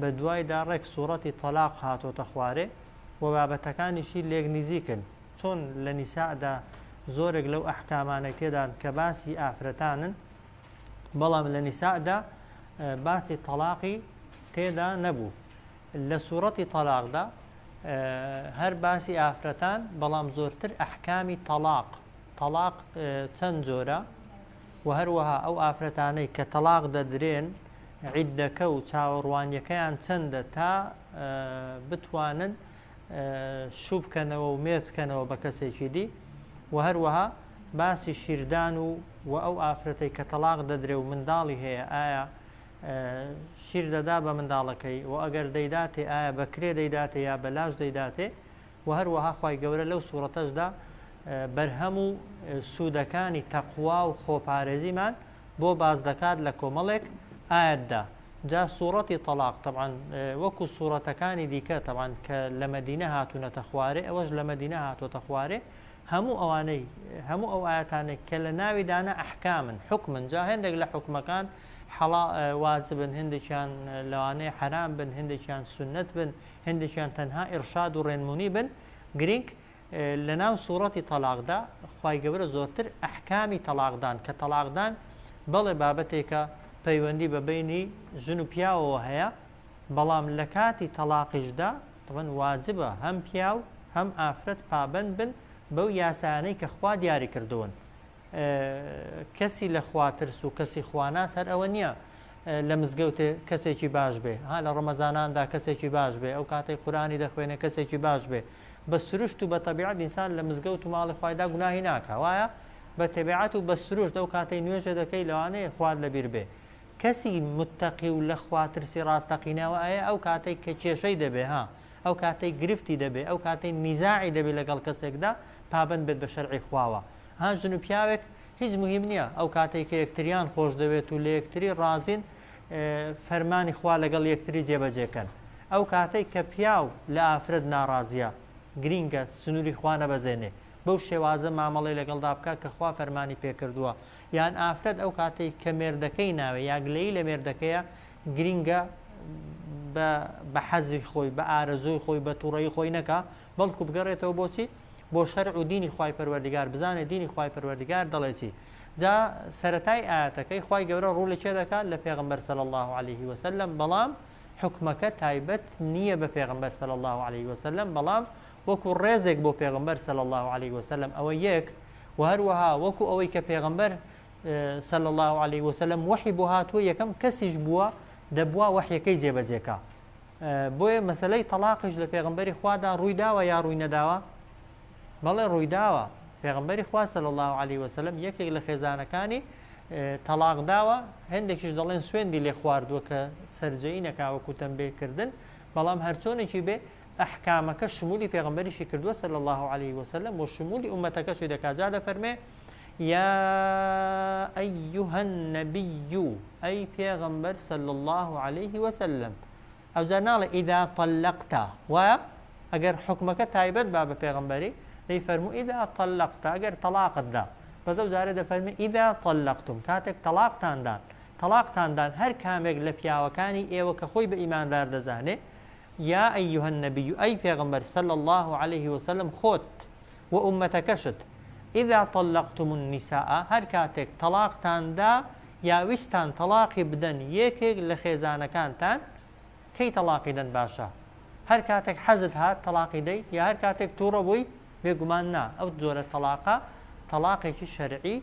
بە دوایدا ڕێک سوڕەتی تەلاق هاتۆتە خوارێ و بابەتەکانیشی لێک نیزیکن چۆن لە نیساء دا زۆرێک لەو ئەحکامانەی تێدان کە باسی ئافرەتانن بەڵام لە نیساء دا باسی تەلاقی تێدا نەبوو لە سوڕەتی تەلاقدا هەر باسی ئافرەتان بەڵام زۆرتر ئەحکامی تەلاق تەلاق چەند جۆرە و هەروەها ئەو ئافرەتانەی کە تەلاق دەدرێن عیدەکە و چاوەڕوانیەکەیان چەندە تا بتوانن شوو بکەنەوە و مێرد بکەنەوە بە کەسێکی دی و هەروەها باسی شیردان و و ئەو ئافرەتەی کە تەلاق دەدرێ و منداڵی هەیە ئایا شیر دەدا بە منداڵەکەی و ئەگەر دەیداتێ ئایا بەکرێ دەیداتێ یا بەلاش دەیداتێ و هەروەها خی گەورە لەو سوورەتەشدا بەرهەم و سوودەکانی تەقوا و خۆپارێزیمان بۆ باس دەکات لە کۆمەڵێک ئایەت دا جا سوڕەتی تەڵاق تەبعەن وەکو سوڕەتەکانی دیکە تەبعەن کە لە مەدینە هاتوونەتە خوارێ ئەوەش لە مەدینە هاتوۆتە خوارێ هەموو ئەوانەی هەموو ئەو ئاەتانێک کە لە ناوی دانە ئەحکامن حکمن جا هەندێک لە حکومەکان حەڵا واجبن هندێکیان لەوانەیە حرام بن هندێکیان سنت بن هندێکیان تەنها ئرشاد و ڕێنمونی بن گرنگ لەناو سوڕەتی تەڵاقدا خوای گەورە زۆرتر ئەحکامی تەڵاقدان کە تەڵاقدان بەڵێ بابەتێکە پەیوەندی بە بەینی ژن و پیاوەوە هەیە بەڵام لە کاتی تەڵاقیشدا تەبەن واجبە هەم پیاو هەم ئافرەت پابەند بن بەو یاسایانەی کە خوا دیاری کردوون کەسی لە خواترس و کەسی خواناس هەر ئەوە نییە لە مزگەوتێ کەسێکی باش بێ ها لە ڕەمەزاناندا کەسێکی باش بێ ئەو کاتەی قورانی دەخوێنێ کەسێکی باش بێ بە سروشت و بە تەبیعەت ئینسان لە مزگەوت و ماڵی خوایدا گوناهی ناکا وایە؟ بە تەبیعەت و بە سروشت ئەو کاتەی نوێژە دەکەی لەوانەیە خوات لەبیر بێ کەسی متەقی و لە خوا ترسی ڕاستەقینە وە ئەیە ئەو کاتەی کە کێشەی دەبێ ها ئەو کاتەی گرفتی دەبێ ئەو کاتەی نیزاعی دەبێ لەگەڵ کەسێکدا پابەند بێت بە شەرعی خواوە ها ژن و پیاوێک هیچ مهیم نییە ئەو کاتەی کە یەکتریان خۆش دەوێت و لە یەکتری ڕازین فەرمانی خوا لەگەڵ یەکتری جێبەجێ کەن ئەو کاتەی کە پیاو لە ئافرەت ناڕازیە گرینگە سنوری خوا نەبەزێنێ بەو شێوازە مامەڵەی لەگەڵدا بکا کە خوا فەرمانی پێ کردووە یان ئافرەت ئەو کاتەی کە مێردەکەی ناوێ یا گلەیی لە مێردەکەیە گرینگە بە حەزی خۆی بە ئارەزووی خۆی بە توڕەی خۆی نەکا بەڵکو بگەڕێتەوە بۆچی بۆ شەرع و دینی خوای پەروەردگار بزانێ دینی خوای پەروەردگار دەڵێ چی جا سەرەتای ئاەتەکەی خوای گەورە ڕوو لە چێ دەکات لە پێغمبەر سەل الله عليه وسلم بەڵام حکومەکە تایبەت نییە بە پێغمبەر سەل الله عليه وسلم بەڵام وەکو ڕێزێک بۆ پێغمبەر سەل الله عليه وسلم ئەوە یەک و هەروەها وەکو ئەوەی کە پێغمبەر سەل الله عليه وسلم وەحی بۆ هاتووە یەکەم کەسیش بووە دەبووە وەحیەکەی جێبەجێکە بۆیە مەسەلەی تەڵاقیش لە پێغمبەری خوادا ڕووی داوە یا ڕووی نەداوە بەڵێ ڕووی داوە پێغمبەری خوا صلی الله علیه وسلم یەکێک لە خێزانەکانی تەلاق داوە هەندێکیش دەڵێن سوێندی لێ خواردووە کە سرجەی نەکاوەکو تەمبێکردن بەڵام هەرچۆنێکی بێ ئەحکامەکە شمولی پێغمبەریشی کردووە صلی الله عليه وسلم و شمولی ئومەتەکەشی دەکات جا دەفەرمێ یا ایها النبی ئەی پێغەمبەر صلی الله علیه وسلم ئەوجا ناڵێ ئیدا طلقتا وایە ئەگەر حکومەکە تایبەت با بە پێغەمبەری دەی فەرموو ئیدا طلقتا ئەگەر تەلاقت دا بەس ئەو جارە دەفەرمی ئیدا طلقتم کاتێک تەلاقتاندان تەلاقتاندان هەر کامێک لە پیاوەکانی ئێوە کە خۆی بە ئیماندار دەزانێ یا ئەیها النبی ئەی پێغەمبەر صلی الله علیه وسلم خۆت و ئوممەتەکەشت، اذا طلقتم النساء، هەر کاتێک تەڵاقتان دا یا ویستتان تەڵاقی بدەن یەکێک لە خێزانەکانتان کەی تەڵاقی دەن باشە؟ هەر کاتێک حەزت هات تەڵاقی دەیت یا هەر کاتێک توڕە بووی؟ بێگومان نا، ئەو جۆرە تەڵاقە تەڵاقێکی شەرعی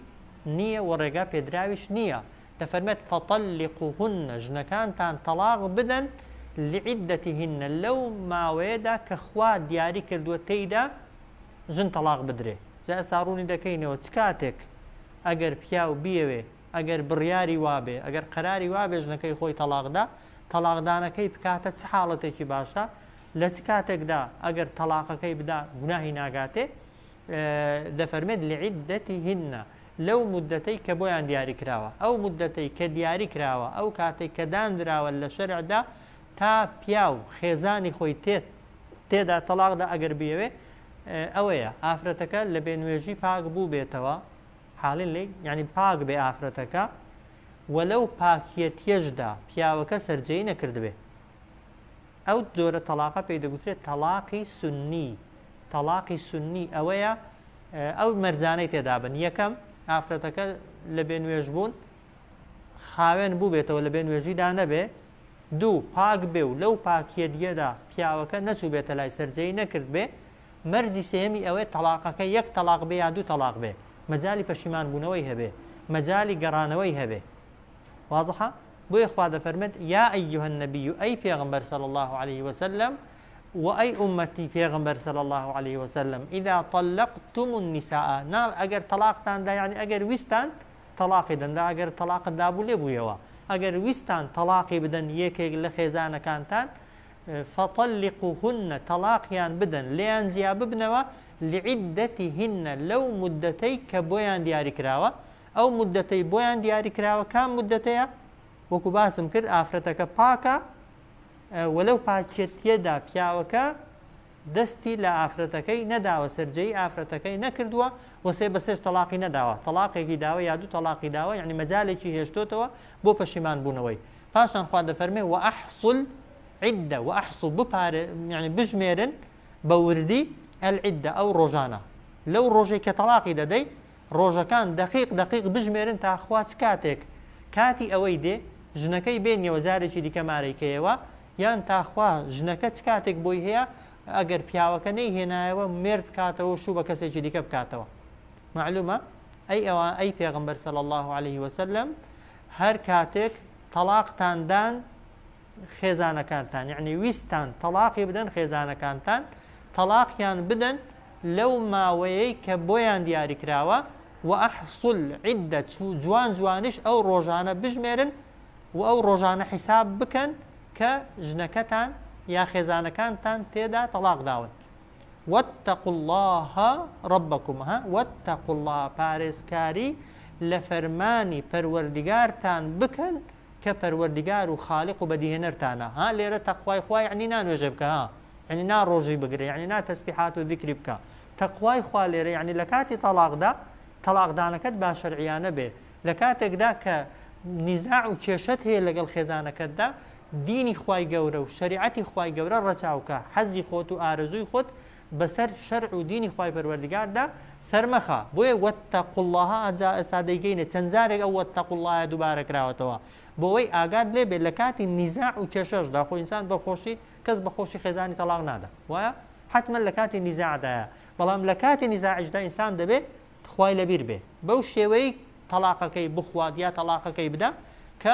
نییە و ڕێگا پێدراویش نییە، دەفەرمێت فطلقوهن ژنەکانتان تەڵاق بدەن لعدتهن لەو ماوەیەدا کە خوا دیاری کردووە تێیدا ژن تەڵاق بدرێ جا ئێستا ڕوونی دەکەینەوە چ کاتێک ئەگەر پیاو بیەوێ ئەگەر بڕیاری وابێ ئەگەر قەراری وابێ ژنەکەی خۆی تەڵاقدا تەڵاقدانەکەی بکاتە چ حاڵەتێکی باشە لە چ کاتێکدا ئەگەر تەڵاقەکەی بدا گوناهی ناگاتێ دەفەرمێت لعدتهن لەو مودەتەی کە بۆیان دیاری کراوە ئەو مودەتەی کە دیاری کراوە ئەو کاتێک کە دانراوە لە شەرعدا تا پیاو خێزانی خۆی تێت تێدا تەلاقدا ئەگەر بیەوێ ئەوەیە ئافرەتەکە لە بێنوێژی پاک بوو بێتەوە حاڵین لی ینی پاک بێ ئافرەتەکە وەلەو پاکیەتیەشدا پیاوەکە سرجەی نەکردبێ ئەو جۆرە تەلاقە پێی دەگوترێت تەلاقی سنی تەلاقی سنی ئەوەیە ئەو مەرجانەی تێدابن یەکەم ئافرەتەکە لە بێ نوێژ بوون خاوێن بوو بێتەوە لە بێ نوێژیدا نەبێ دوو پاک بێ و لەو پاکیە دیەدا پیاوەکە نەچوو بێتە لای سەررجەی نەکرد بێ مەرجی سێمی ئەوەیە تەلاقەکە یەک تەلاق بێ یا دوو تەلاق بێ مەجای پەشیمان بوونەوەی هەبێ مەجای گەڕانەوەی هەبێ وازحە بۆیە خوا دەفەرمێت یا ایها النبی ئەی پێغەمبەر صلی اللە علیه وسلم و ئەی ئومەتی پێغەمبەر صلی اللە علیه وسلم اذا طلقتم النساء نا ئەگەر طلاقتان دا یعنی ئەگەر ویستان طلاقی دەن دا ئەگەر طلاقت دابوو لێ بوویەوە ئەگەر ویستان طلاقی بدەن یەکێک لە خێزانەکانتان فطلقوهن طلاقیان بدەن لێیان جیا ببنەوە لعدتهن لەو مدەتەی کە بۆیان دیاری کراوە ئەو موددەتەی بۆیان دیاری کراوە کام موددەتەیە؟ وەکو باسم کرد ئافرەتەکە پاکە و لەو پاکێتیەدا پیاوەکە دەستی لە ئافرەتەکەی نەداوە سەررجەی ئافرەتەکەی نەکردووە وەسێ بەسێش تەلاقی نەداوە تەلاقێکی داوە یا دوو تەلاقی داوە یعنی مەجالێکی هێشتۆتەوە بۆ پەشیمان بوونەوەی پاشان خوا دەفەرمێ و ئەحسل عیددە و ئەحسو بپارێ یعنی بژمێرن بە وردی ئەلعیددە ئەو ڕۆژانە لەو ڕۆژێک کە تەلاقی دەدەی ڕۆژەکان دەقیق دەقیق بژمێرن تا خوا چ کاتێک کاتی ئەوەی دێ ژنەکەی بێنیەوە جارێکی دیکە مارەی کەیەوە یان تا خوا ژنەکە چ کاتێک بۆی هەیە ئەگەر پیاوەکە نەی هێنایەوە مێرد بکاتەوە شوو بە کەسێکی دیکە بکاتەوە معلومە ئەی ئەوە ئەی پێغمبەر سەل الله عليه وسلم هەر کاتێک تەلاقتاندان خێزانەکانتان یعنی ویستان تەلاقی بدەن خێزانەکانتان تەلاقیان بدەن لەو ماوەیەی کە بۆیان دیاریکراوە، وأحصوا العدە جوان جوانیش ئەو ڕۆژانە بژمێرن و ئەو ڕۆژانە حیساب بکەن کە ژنەکەتان یا خێزانەکانتان تێدا تەڵاق داون واتقوا اللە ربکم ها واتقوا اللە پارێزکاری لە فەرمانی پەروەردگارتان بکەن کە پەروەردگار و خالق و بەدیهێنەرتانە ها لێرە تەقوای خوا یەعنی نا نوێژێ بکە ها یەعنی نا ڕۆژی بگرە یەعنی نا تەسبیحات و زیکری بکە تەقوای خوا لێرە یەعنی لە کاتی تەڵاقدا تەڵاقدانەکەت باشەرعیانە بێ لە کاتێکدا کە نیزاع و کێشەت هەیە لەگەڵ خێزانەکەتدا دینی خوای گەورە و شەریعەتی خوای گەورە ڕەچاوکە حەزی خۆت و ئارەزووی خۆت بەسەر شەرع و دینی خوای پەروەردگاردا سەرمەخە بۆیە وەتەقو اللە ئەجا ئێستا دەیکەینە چەند جارێک ئەو وەتەقو اللە یە دووبارە کراوەتەوە بۆوەی ئاگات لێ بێت لە کاتی نیزاع و کێشەشدا خۆ ئینسان بە خۆشی کەس بە خۆشی خێزانی تەڵاق نادا وایە حتمما لە کاتی نیزاعدایە بەڵام لە کاتی نیزاعیشدا ئینسان دەبێت خوای لەبیر بێ بەو شێوەیەی تەڵاقەکەی بخوات یا تەڵاقەکەی بدا کە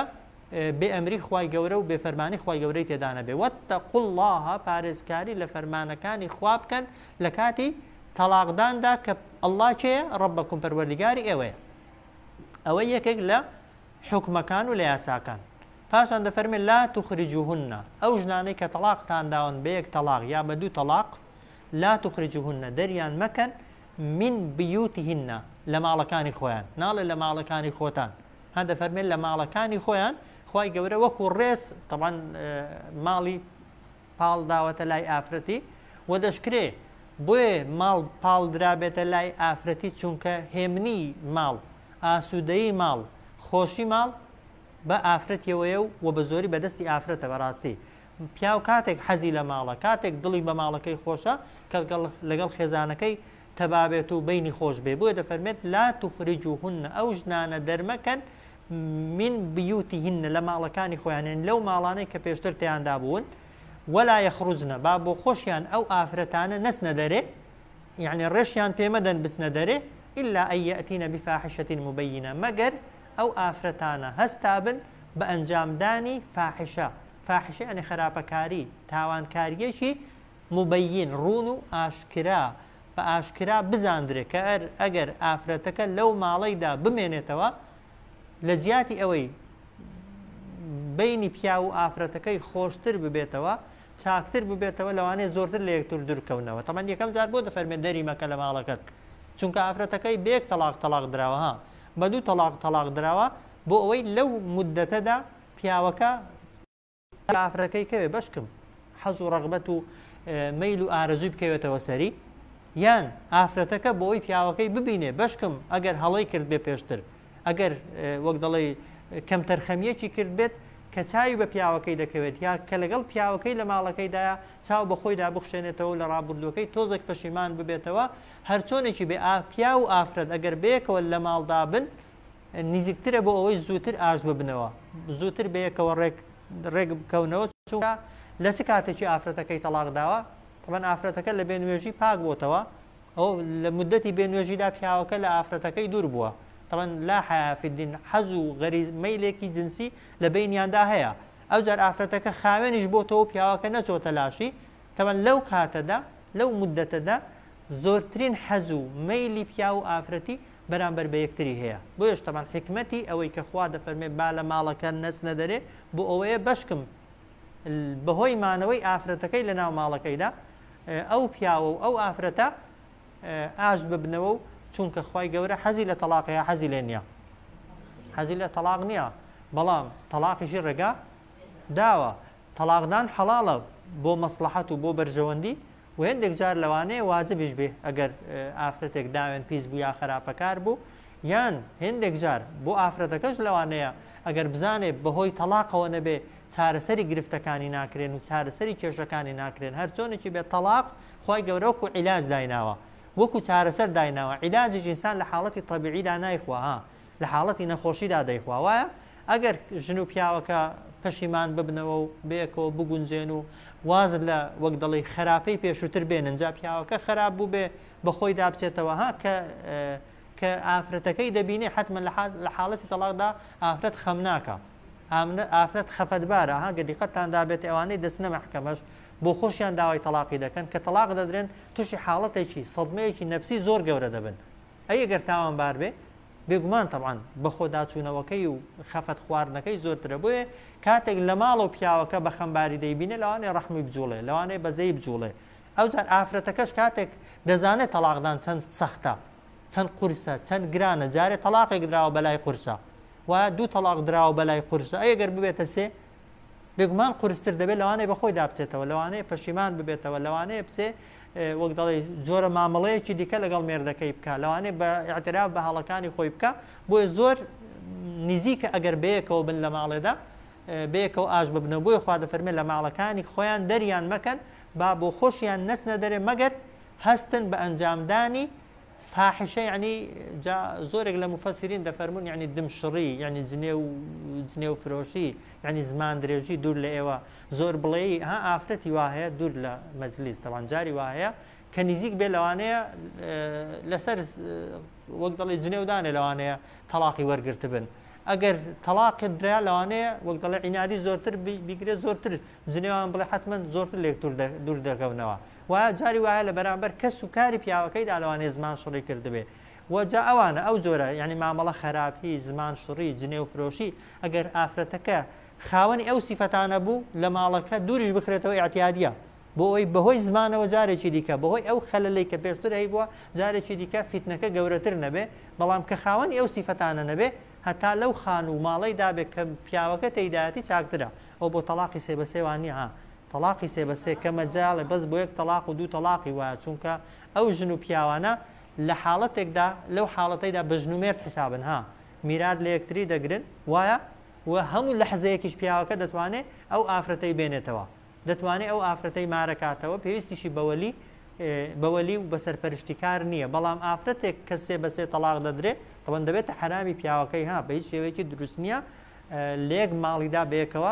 بێ ئەمری خوای گەورە و بێ فەرمانی خوای گەورەی تێدانە بێ وەتە قوڵڵاها پارێزکاری لە فەرمانەکانی خوا بکەن لە کاتی تەلاقداندا کە ئەللا کێ ڕبەکم پەروەردیگاری ئێوەیە ئەوە یەکێک لە حکمەکان و لە یاساکان پاشان دەفەرمێ لا تخرجهن ئەو ژنانەی کە تەلاقتان داون بە یەک تەلاق یا بە دوو تەلاق لا تخرجهن دەریان مەکەن من بیوتهن لە ماڵەکانی خۆیان ناڵێ لە ماڵەکانی خۆتان هەن دەفەرمێن لە ماڵەکانی خۆیان خی گەورە وەکو ڕێز تەوان ماڵی پاڵ داوەتە لای ئافرەتی و دەشکرێ بۆیە ماڵ پاڵ درابێتە لای ئافرەتی چونکە هێمنی ماڵ ئاسوودەی ماڵ خۆشی ماڵ بە ئافرەتەوەیە و و بە زۆری بەدەستی ئافرەتە بەڕاستی پیاو کاتێک حەزی لە ماڵە، کاتێک دڵی بە ماڵەکەی خۆشە، کە لەگەڵ خێزانەکەی تەبا بێت و بەینی خۆش بێ، بۆیە دەفەرمێت، لا تخرجوهن، ئەو ژنانە دەرمەکەن، من بیوتهن، لە ماڵەکانی خۆیان، یانی لەو ماڵانەی کە پێشتر تێیاندا بوون، ولا یخرجن، با بۆ خۆشیان ئەو ئافرەتانە نەچنە دەرێ، یانی ڕێشیان پێ مەدەن بچنە دەرێ، الا ان یاتین بفاحشە مبینە، مەگەر ئەو ئافرەتانە هەستابن بە ئەنجامدانی فاحشە، فاحشە یانی خەراپەکاری، تاوانکارییەکی، موبەین، ڕوون و ئاشکرا، بە ئاشکرا بزاندرێ کە ئەر ئەگەر ئافرەتەکە لەو ماڵەیدا بمێنێتەوە لە جیاتی ئەوەی بەینی پیاو و ئافرەتەکەی خۆشتر ببێتەوە چاکتر ببێتەوە لەوانەیە زۆرتر لە یەکتر دوورکەونەوە تەمان یەکەم جار بۆ دەفەرمێ دەری مەکە لە ماڵەکەت چونکە ئافرەتەکەی بێک تەلاق تەلاق دراوە ها بە دوو تەلاق تەلاق دراوە بۆ ئەوەی لەو مدەتەدا پیاوەکە کافرەکەی کەوێ بەشکم حەز و ڕغبەت و مەیل و ئارەزوی بکەوێتەوە سەری یان ئافرەتەکە بۆ ئەوی پیاوەکەی ببینێ بەشکم ئەگەر هەڵی کرد بێ پێشتر ئەگەر وەک دەڵێ کەم تەرخەمیەکی کرد بێت کە چاوی بە پیاوەکەی دەکەوێت یا کە لەگەڵ پیاوەکەی لە ماڵەکەیدایە چاو بە خۆیدا بخشێنێتەوە لە ڕابردوەکەی تۆزێک پەشیمان ببێتەوە هەرچۆنێکی بێ ئاپیا و ئافرەت ئەگەر بەیەکەوە لە ماڵدابن نزیکترە بۆ ئەوەی زووتر ئاش ببنەوە زووتر بەیەکەوە ڕێک ڕێک بکەونەوە چونکە لە چ کاتێکی ئافرەتەکەی تەلاق داوە تەمەن ئافرەتەکە لە بێنوێژی پاک بۆتەوە ئەو لە مدەتی بێنوێژیدا پیاوەکە لە ئافرەتەکەی دوور بووە تەمەن لا حیافدین حەز و غەریز مەیلێکی جنسی لە بینیاندا هەیە ئەو جار ئافرەتەکە خاوێنیش بۆتەوە پیاوەکە نەچۆتە لاشی تەمەن لەو کاتەدا لەو مدەتەدا زۆرترین حەز و مەیلی پیا و ئافرەتی بەرامبەر بە یەکتری هەیە بۆیەش تەبعەن حیکمەتی ئەوەی کە خوا دەفەرمێ با لە ماڵەکە نەچنە دەرێ بۆ ئەوەیە بەشکم بەهۆی مانەوەی ئافرەتەکەی لە ناو ماڵەکەیدا ئەو پیاوە و ئەو ئافرەتە ئاش ببنەوە و چونکە خی گەورە حەزی لە تەلاقەیە حەزی لێ نییە حەزی لە تەلاق نییە بەڵام تەلاقیشی ڕێگا داوە تەلاقدان حەڵاڵە بۆ مەسلحەت و بۆ بەرژەوەندی وە هێندێک جار لەوانەیە واجبیش بێ ئەگەر ئافرەتێک داوێن پیس بوو یا خەراپەکار بوو یان هێندێک جار بۆ ئافرەتەکەش لەوانەیە ئەگەر بزانێ بەهۆی تەڵاقەوە نەبێ چارەسەری گرفتەکانی ناکرێن و چارەسەری کێشەکانی ناکرێن هەر چۆنێکی بێت تەڵاق خوای گەورە وەکو عیلاج دایناوە وەکو چارەسەر دایناوە عیلاجیش ئینسان لە حاڵەتی طەبیعیدا نایخوا ها لە حاڵەتی نەخۆشیدا دەیخوا وایە ئەگەر ژن و پیاوەکە پەشیمان ببنەوە و بەیەکەوە بگونجێن و واز لە وەک دەڵی خراپەی پێشووتر بێنن جا پیاوەکە خراپ بوو بێ بەخۆی دابچێتەوە ها کە کە ئافرەتەکەی دەبینێ حتممە لە حاڵەتی تەڵاقدا ئافرەت خەم ناکە ئافرەت خەفەتبارە ها گەدیقەتتان دابێت ئەوانەی دەستنە مەحکەمەش بۆ خۆشیان داوای تەلاقی دەکەن کە تەلاق دەدرێن تووشی حاڵەتێکی سەدمەیەکی نەفسی زۆر گەورە دەبن ئەی گەر تاوانبار بێ؟ بێگومان تەبعەن بەخۆداچوونەوەکەی و خەفەت خواردنەکەی زۆرترە بۆیە کاتێک لەماڵەوە پیاوەکە بەخەمباری دەیبینێ لەوانەیە ڕەحمی بجوڵێ لەوانەیە بەزەیی بجوڵێ ئەوجار ئافرەتەکەش کاتێک دەزانێت تەڵاقدان چەند سەختە چەند قورسە چەند گرانە جارێ تەلاقێک دراوە بەلای قورسە و دوو تەلاق دراوە بەلای قورسە ئەگەر ببێتە سێ بێگومان قورستر دەبێت لەوانەیە بە خۆیدا بچێتەوە لەوانەیە پەشیمان ببێتەوە لەوانەیە بچێ وەک دەڵێ جۆرە مامەڵەیەکی دیکە لەگەڵ مێردەکەی بکە لەوانەیە بە ئاعتراف بە هەڵەکانی خۆی بکە بۆیە زۆر نزیکە ئەگەر بەیەکەوە بن لە ماڵێدا بەیەکەوە ئاش ببنە بۆی خوا دەفەرمێ لە ماڵەکانی خۆیان دەریان مەکەن با بۆ خۆشیان نەسنە دەرێ مەگەر هەستن بە ئەنجامدانی فاحشە یەعنی جا زۆرێک لە موفەسیرین دەفەرموون یەعنی دم شڕی یەعنی جنێو و جنێو فرۆشی یەعنی زمان درێژی دوور لە ئێوە زۆر بڵێی ها ئافرەتی وا هەیە دوور لە مەجلیس تەبان جاری وا هەیە کە نیزیک بێ لەوانەیە لەسەر وەک دەڵێ جنێودانێ لەوانەیە تەڵاقی وەرگرتبن ئەگەر تەلاقت درا لەوانەیە وەک دەڵێ عینادی زۆرتر بیگرێت زۆرتر جنێوان بڵێ حتمما زۆرتر لێکتور دوور دەکەونەوە وە جاری وایە لە بەرامبەر کەس و کاری پیاوەکەیدا لەوانەیە زمان شڕی کردبێ و جا ئەوانە ئەو جۆرە یانی مامەڵە خەراپی، زمان شڕی، جنێو فرۆشی ئەگەر ئافرەتەکە خاوەنی ئەو سیفەتانە بوو لە ماڵەکە دووریش بخرێتەوە ئیعتیادیە بۆ ئەوەی بەهۆی زمانەوە جارێکی دیکە بەهۆی ئەو خەلەلەی کە پێشتر هەیبووە جارێکی دیکە فیتنەکە گەورەتر نەبێ بەڵام کە خاوەنی ئەو سیفەتانە نەبێ هەتا لەو خانوو و ماڵەیدا بێ کە پیاوەکە تێیدایەتی چاکترە ئەو بۆ تەڵاقی سێ بە سێ وانیە ها تەڵاقی سێ بە سێ کەمە جەالێ بەس بۆ یەک تەڵاق و دوو تەڵاقی وایە چونکە ئەو ژن و پیاوانە لە حاڵەتێکدا لەو حاڵەتەیدا بە ژن و مێرد حیسابن ها میرات لە یەکتری دەگرن وایە و هەموو لەحزەیەکیش پیاوەکە دەتوانێ ئەو ئافرەتەی بێنێتەوە دەتوانێ ئەو ئافرەتەی مارەکاتەوە پێویستیشی بەوەلی بەوەلی و بەسەرپەرشتی کار نییە بەڵام ئافرەتێک کە سێ بەسێ تەلاق دەدرێ تەوەن دەبێتە حرامی پیاوەکەی ها بە هیچ شێوەیەکی دروست نییە لەیەک ماڵیدا بەیەکەوە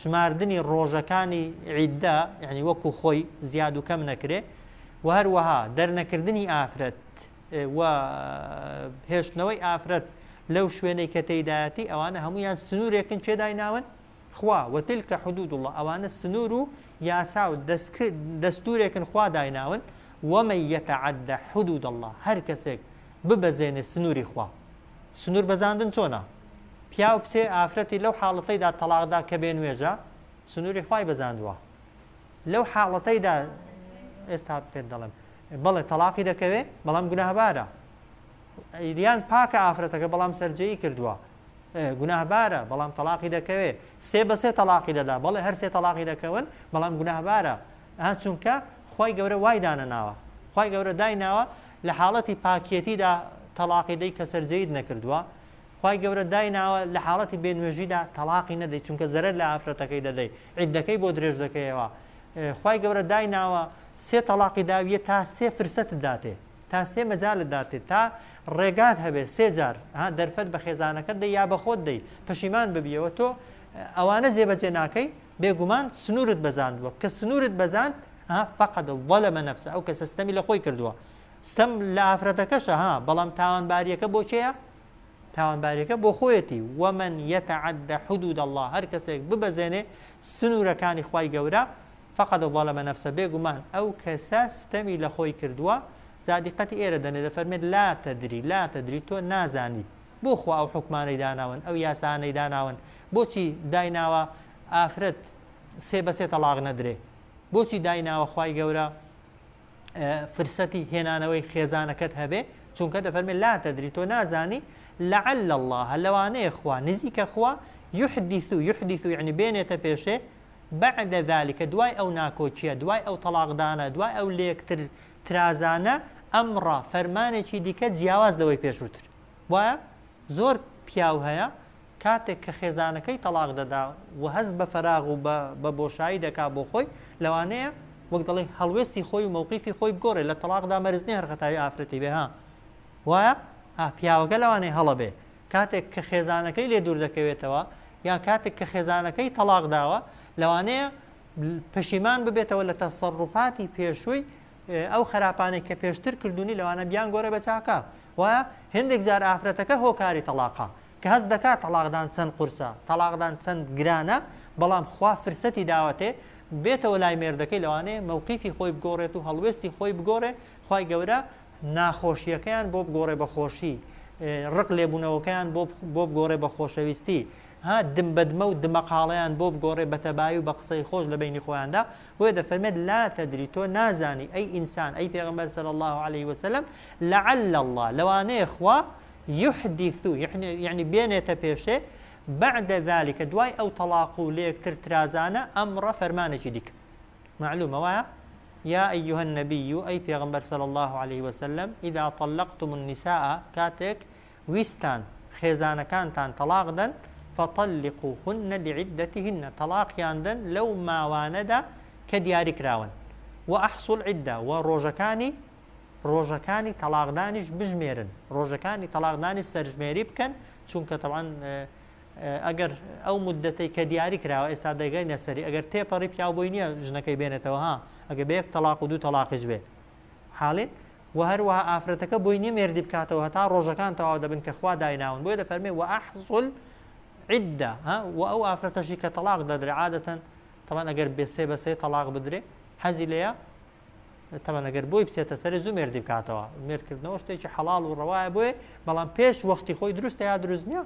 شماردنی ڕۆژەکانی عیددا یانی وەکو خۆی زیاد و کەم نەکرێ و هەروەها دەرنەکردنی ئافرەت و هێشتنەوەی ئافرەت لەو شوێنەی کە تێدایەتی ئەوانە هەمویان سنوورێکن چێدای ناون خوا وتلکە حدود الله ئەوانە سنوور و یاسا و دەستورێکن خوا دایناون ومە یەتەعدە حدود الله هەر کەسێک ببەزێنێ سنووری خوا سنور بەزاندن چۆنە؟ پیاو بچێ ئافرەتی لەو حاڵەتەیدا تەڵاقدا کە بێ نوێژە سنوری خوای بەزاندووە لەو حاڵەتەیدا ئێستا پێت دەڵێم بەڵێ تەلاقی دەکەوێ بەڵام گوناهبارە ئەیریان پاکە ئافرەتەکە بەڵام سەررجەیی کردووە گوناهبارە بەڵام تەلاقی دەکەوێ سێ بەسێ تەلاقی دەدا بەڵێ هەر سێ تەلاقی دەکەون بەڵام گوناهبارە ئا چونکە خوای گەورە وای دانەناوە خوای گەورە دایناوە لە حاڵەتی پاکیەتیدا تەڵاقی دەی کە سەرجێیت نەکردووە خوای گەورە دایناوە لە حاڵەتی بێ نوێژیدا تەڵاقی نەدەی چونکە زەرەر لە ئافرەتەکەی دەدەی عیدەکەی بۆ درێژ دەکەیەوە خوای گەورە دایناوە سێ تەڵاقی داویە تا سێ فرسەت داتێ تا سێ مەجالت داتێ تا ڕێگات هەبێ سێ جار ها دەرفەت بە خێزانەکەت دەی یا بەخۆت دەی پەشیمان ببیەوە تۆ ئەوانە جێبەجێ ناکەی بێ گومان سنورت بەزاندووە کە سنورت بەزاند ها فقد ظلم نفسه ئەو کەسە ستەمی لە خۆی کردووە ستەم لە ئافرەتەکەشە ها بەڵام تاوانباریەکە بۆ کێیە تاوانباریەکە بۆ خۆیەتی ومن يتعدى حدود الله هەر کەسێک ببەزێنێ سنورەکانی خوای گەورە فقد ظلم نفسه بێ گومان ئەو کەسە ستەمی لە خۆی کردووە جادیقەتی ئێرە دەنێ دەفەرمێت لا تدری لا تدری تۆ نازانی بۆ خوا ئەو حوکمانەی داناون ئەو یاسانەی داناون بۆچی دایناوە ئافرەت سێ بە سێ تەڵاق نەدرێ بۆچی دایناوە خوای گەورە فرسەتی هێنانەوەی خێزانەکەت هەبێ چونکە دەفەرمێ لا تدری تۆ نازانی لعل الله لەوانەیە خوا نزیکە خوا يحدث يحدث يعني بێنێتە پێشێ بعد ذلك دوای ئەو ناکۆکیە دوای ئەو تەلاقدانە دوای ئەو لەکتر ترازانە ئەمڕە فەرمانێکی دیکە جیاواز لەوەی پێشووتر وایە زۆر پیاو هەیە کاتێک کە خێزانەکەی تەڵاق دەدا و هەست بە فەراغ و بە بۆشایی دەکا بۆ خۆی لەوانەیە وەک دەڵێ هەڵوێستی خۆی و مەوقیفی خۆی بگۆڕێ لە تەڵاقدا مەرزنی هەرخەتاوی ئافرەتی بێ ها وایە پیاوەکە لەوانەیە هەڵە بێ کاتێک کە خێزانەکەی لێ دوور دەکەوێتەوە یان کاتێک کە خێزانەکەی تەڵاق داوە لەوانەیە پەشیمان ببێتەوە لە تەسەڕوفاتی پێشووی ئەو خراپانەی کە پێشتر کردونی لەوانە بیانگۆرە بە چاکە وایە هندێک جار ئافرەتەکە هۆکاری تەلاقە کە هەست دەکات تەلاقدان چەند قورسە تەلاقدان چەند گرانە بەڵام خوا فرسەتی داوەتێ بێتەوە لای مێردەکەی لەوانەیە مەوقیفی خۆی بگۆڕێت و هەڵوێستی خۆی بگۆڕێ خی گەورە ناخۆشیەکەیان بۆ بگۆڕێ بە خۆشی ڕق لێبوونەوەکەیان بۆ بگۆڕێ بە خۆشەویستی ها دم بەدمە و دمەقاڵیان بۆ بگۆڕێ بە تەبای و بە قسەی خۆش لە بینی خۆیاندا بۆیە دەفەرمێت لا تدری تۆ نازانی ئەی ئینسان ئەی پێغەمبەر صلی اللە علیه وسلم لعل اللە لەوانەیە خوا یحدیث یعنی بێنێتە پێشێ بعد ذلك دوای ئەو تەلاق و لێکتر ترازانە ئەمڕە فەرمانێکی دیکە معلومە وایە یا ئەیها النبی ئەی پێغمبەر صلی الله عليه وسلم اذا طلقتم النساء کاتێک ویستان خێزانەکانتان تەڵاق دەن، فطلقوهن لعدتهن، تەڵاقیان دەن لەو ماوانەدا کە دیاری کراون، واحصوا العدە، وە ڕۆژەکانی ڕۆژەکانی تەڵاقدانیش بژمێرن، ڕۆژەکانی تەڵاقدانیش سەرژمێری بکەن، چونکە تەبعەن ئەگەر ئەو موددەتەی کە دیاری کراوە ئێستا دەگەینە سەری ئەگەر تێپەڕی پیاو بۆی نییە ژنەکەی بێنێتەوە ها ئەگەر بە یەک تەڵاق و دوو تەڵاقیش بێت. حاڵێک، وە هەروەها ئافرەتەکە بۆی نیە مێردی بکاتەوە هەتا ڕۆژەکان تەواو دەبن کە خوا دایناون بۆیە دەفەرمێ وە ئەحزول عدە ها وە ئەو ئافرەتەشی کە تەڵاق دەدرێ عادەتەن تەمان ئەگەر بێ سێ بە سێ تەڵاق بدرێ حەزی لەیە تەمان ئەگەر بۆی بچێتە سەر زوو مێردی بکاتەوە مێردکردنەوە شتێکی حەڵاڵ و ڕەوایە بۆیە بەڵام پێش وەختی خۆی دروستە یا دروست نییە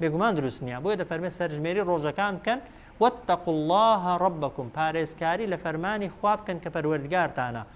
بێگومان دروست نییە بۆیە دەفەرمێ سەرژمێری ڕۆژەکان بکەن واتقوا الله ربکم پارێزکاری لە فەرمانی خواب بکەن کە پەروەردگارتانە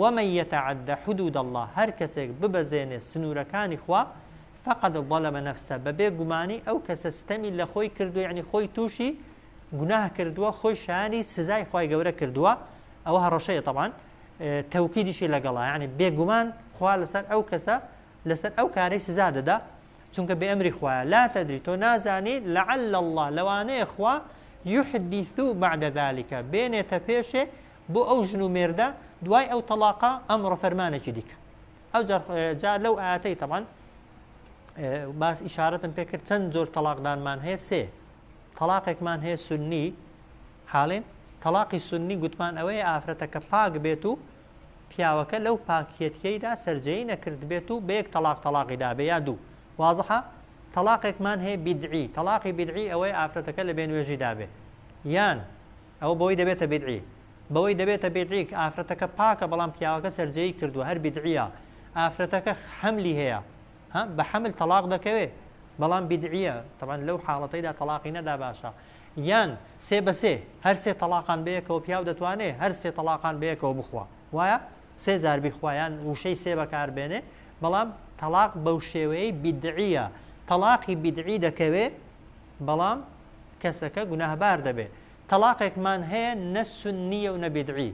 ومن یتعد حدود اللە، هەر کەسێک ببەزێنێ سنوورەکانی خوا، فقد ظلم نفسە، بەبێ گومانی ئەو کەسە ستەمی لەخۆی کردووە یەعنی خۆی تووشی گوناه کردووە خۆی شایانی سزای خوای گەورە کردووە، ئەوە هەڕەشەیە تەبعەن تەوکیدیشی لەگەڵە یەعنی بێگومان خوا لەسەر ئەو کەسە لەسەر ئەو کارەی سزا دەدا چونکە بێ ئەمری خوایە، لا تدری تۆ نازانی لعل اللە لەوانەیە خوا یحدث بعد ذلک بێنێتە پێشێ بۆ ئەو ژن و مێردە دوای ئەو تەلاقە ئەمڕۆ فەرمانێکی دیکە ئەو جا لەو ئاەتەی تەمان باس ئیشارەتم پێکرد چەند زۆر تەلاقدانمان هەیە سێ تەلاقێکمان هەیە سنی حاڵێن تەلاقی سنی گوتمان ئەوەیە ئافرەتە کە پاک بێت و پیاوەکە لەو پاکیەتیەیدا سرجەی نەکرد بێت و بەیەک تەلاق تەلاقی دابێ یا دوو وازحە تەلاقێکمان هەیە بیدعی تەلاقی بیدعی ئەوەی ئافرەتەکە لە بێنوێژی دابێ یان ئەوە بەوەی دەبێتە بیدعی. بەوەی دەبێتە بیدعی کە ئافرەتەکە پاکە بەڵام پیاوەکە سەرجێی کردووە هەر بیدعیە. ئافرەتەکە حەملی هەیە ها بە حەمل تەڵاق دەکەوێ بەڵام بیدعیە تەبعەن لەو حاڵەتەیدا تەڵاقی نەدا باشە. یان سێ بە سێ هەر سێ تەڵاقان بەیەکەوە پیاو دەتوانێ هەر سێ تەڵاقان بەیەکەوە بخوا وایە؟ سێ جار بیخوا یان وشەی سێ بەکار بێنێ بەڵام تەڵاق بەو شێوەیەی بیدعیە تەڵاقی بیدعی دەکەوێ بەڵام کەسەکە گوناهبار دەبێت تەلاقێکمان هەیە نە سنیە و نە بدعی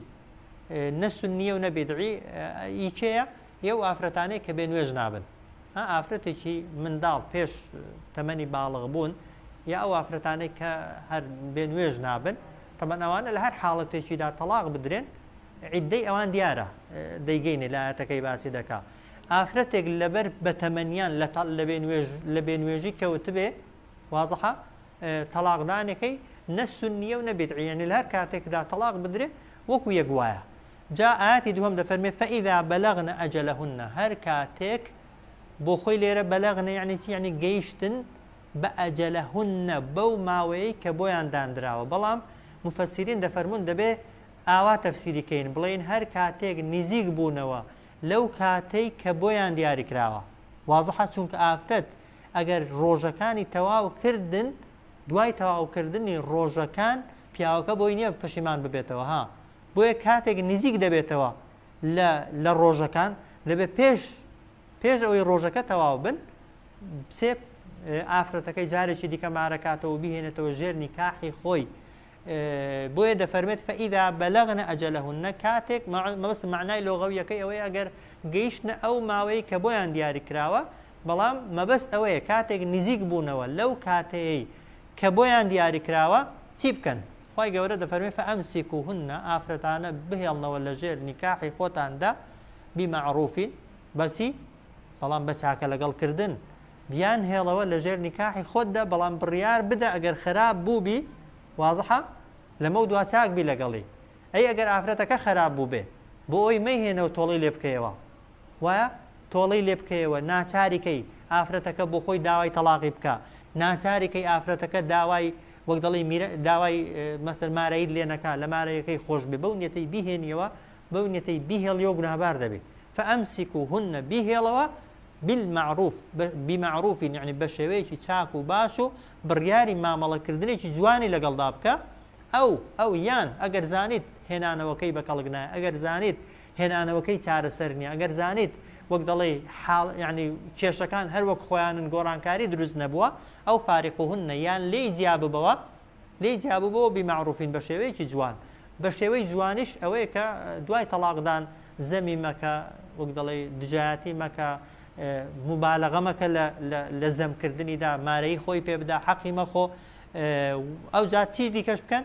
نە سنیە و نە بدعی ئیکەیە ئێو ئافرەتانەی کە بێ نوێژ نابن ئافرەتێکی منداڵ پێش تەمەنی باڵغ بوون یا ئەو ئافرەتانەی کە هەر بێ نوێژ نابن تەمەناوانە لە هەر حاڵەتێکیدا تەلاق بدرێن عیددەی ئەوان دیارە دەیگەینە لایەتەکەی باسی دەکا ئافرەتێک لەبەر بەتەمەنیان لە بێ نوێژی کەوتبێ وازحە تەلاقدانەکەی نە سنیە و نەبێت عیێنی لە هەر کاتێکدا تەلاق بدرێ وەکو یەک وایە جا ئاتی دووەم دەفەرمێ فەئیدا بەلەغنە ئەجەلەهنە هەر کاتێک بۆ خۆی لێرە بەلەغنە یعنی چی یعنی گەیشتن بە ئەجەلەهنە بەو ماوەیە کە بۆیان دانراوە بەڵام مفەسیرین دەفەرمونون دەبێ ئاوا تەفسیریکەین بڵین هەر کاتێک نزیک بوونەوە لەو کاتەی کە بۆیان دیاری کراوە وازحە چونکە ئافرەت ئەگەر ڕۆژەکانی تەواو کردن دوای تەواوکردنی ڕۆژەکان پیاوەکە بۆی نییە پەشیمان ببێتەوە ها بۆیە کاتێک نزیک دەبێتەوە لە لە ڕۆژەکان دەبێت پێش پێش ئەوەی ڕۆژەکە تەواو بن سێ ئافرەتەکەی جارێکی دیکە مارەکاتەوە بهێنێتەوە ژێر نیکاحی خۆی بۆیە دەفەرمێت فاذا بلغن اجلهن کاتێک مەبەست معنای لۆغەویەکەی ئەوەی ئەگەر گەیشتنە ئەو ماوەی کە بۆیان دیاری کراوە بەڵام مەبەست ئەوەیە کاتێک نزیک بوونەوە لەو کاتەیەی کە بۆیان دیاری کراوە چی بکەن خی گەورە دەفەرمی فەمسیک و هونە ئافرەتانە بهێڵنەوە لە ژێر نیکاحی خۆتاندا بیمەعروفین بەچی بەڵام بە چاکە لەگەڵ کردن بیان هێڵەوە لە ژێر نیکاحی خۆتدا بەڵام بڕیار بدە ئەگەر خراپ بووبی وازحە لەمە دوا چاک بی لەگەڵی ئەی ئەگەر ئافرەتەکە خراپ بوو بێ بۆ ئەوی مەیهێنە و تۆڵی لێ بکەیەوە وایە تۆڵی لێ بکەیەوە ناچاریکەی ئافرەتەکە بۆ خۆی داوای تەلاقی بکە ناچاریکەی ئافرەتەکە داوای وەک دەڵی داوای مەسەر مارەیل لێنەکە لە مارەیەکەی خۆش بێ بەو نیەتەی بهێنیەوە بەو نیەتەی بهێڵیەوە گوناهبار دەبێت فەمسیک و هونە بهێڵەوە بالمعروف بمعروف یعنی بە شێوەیەکی چاک و باش و بڕیاری مامەڵەکردنێکی جوانی لەگەڵدا بکە ئەو ئەو یان ئەگەر زانیت هێنانەوەکەی بە کەڵک نایە ئەگەر زانیت هێنانەوەکەی چارەسەر نییە ئەگەر زانیت وەک دەڵێ حاڵ ینی کێشەکان هەر وەک خۆیانن گۆڕانکاری دروست نەبووە ئەو فارق و هەنە یان لێی جیاببەوە لێی جیابوو بۆ بی مەعروفین بە شێوەیەکی جوان بە شێوەی جوانیش ئەوەیە کە دوای تەڵاقدان زەمی مەکە وەک دەڵێ دژایەتی مەکە مبالغە مەکە لە زەمکردنیدا مارەی خۆی پێ بدا حەقی مەخۆ ئەو جار چی دیکەش بکەن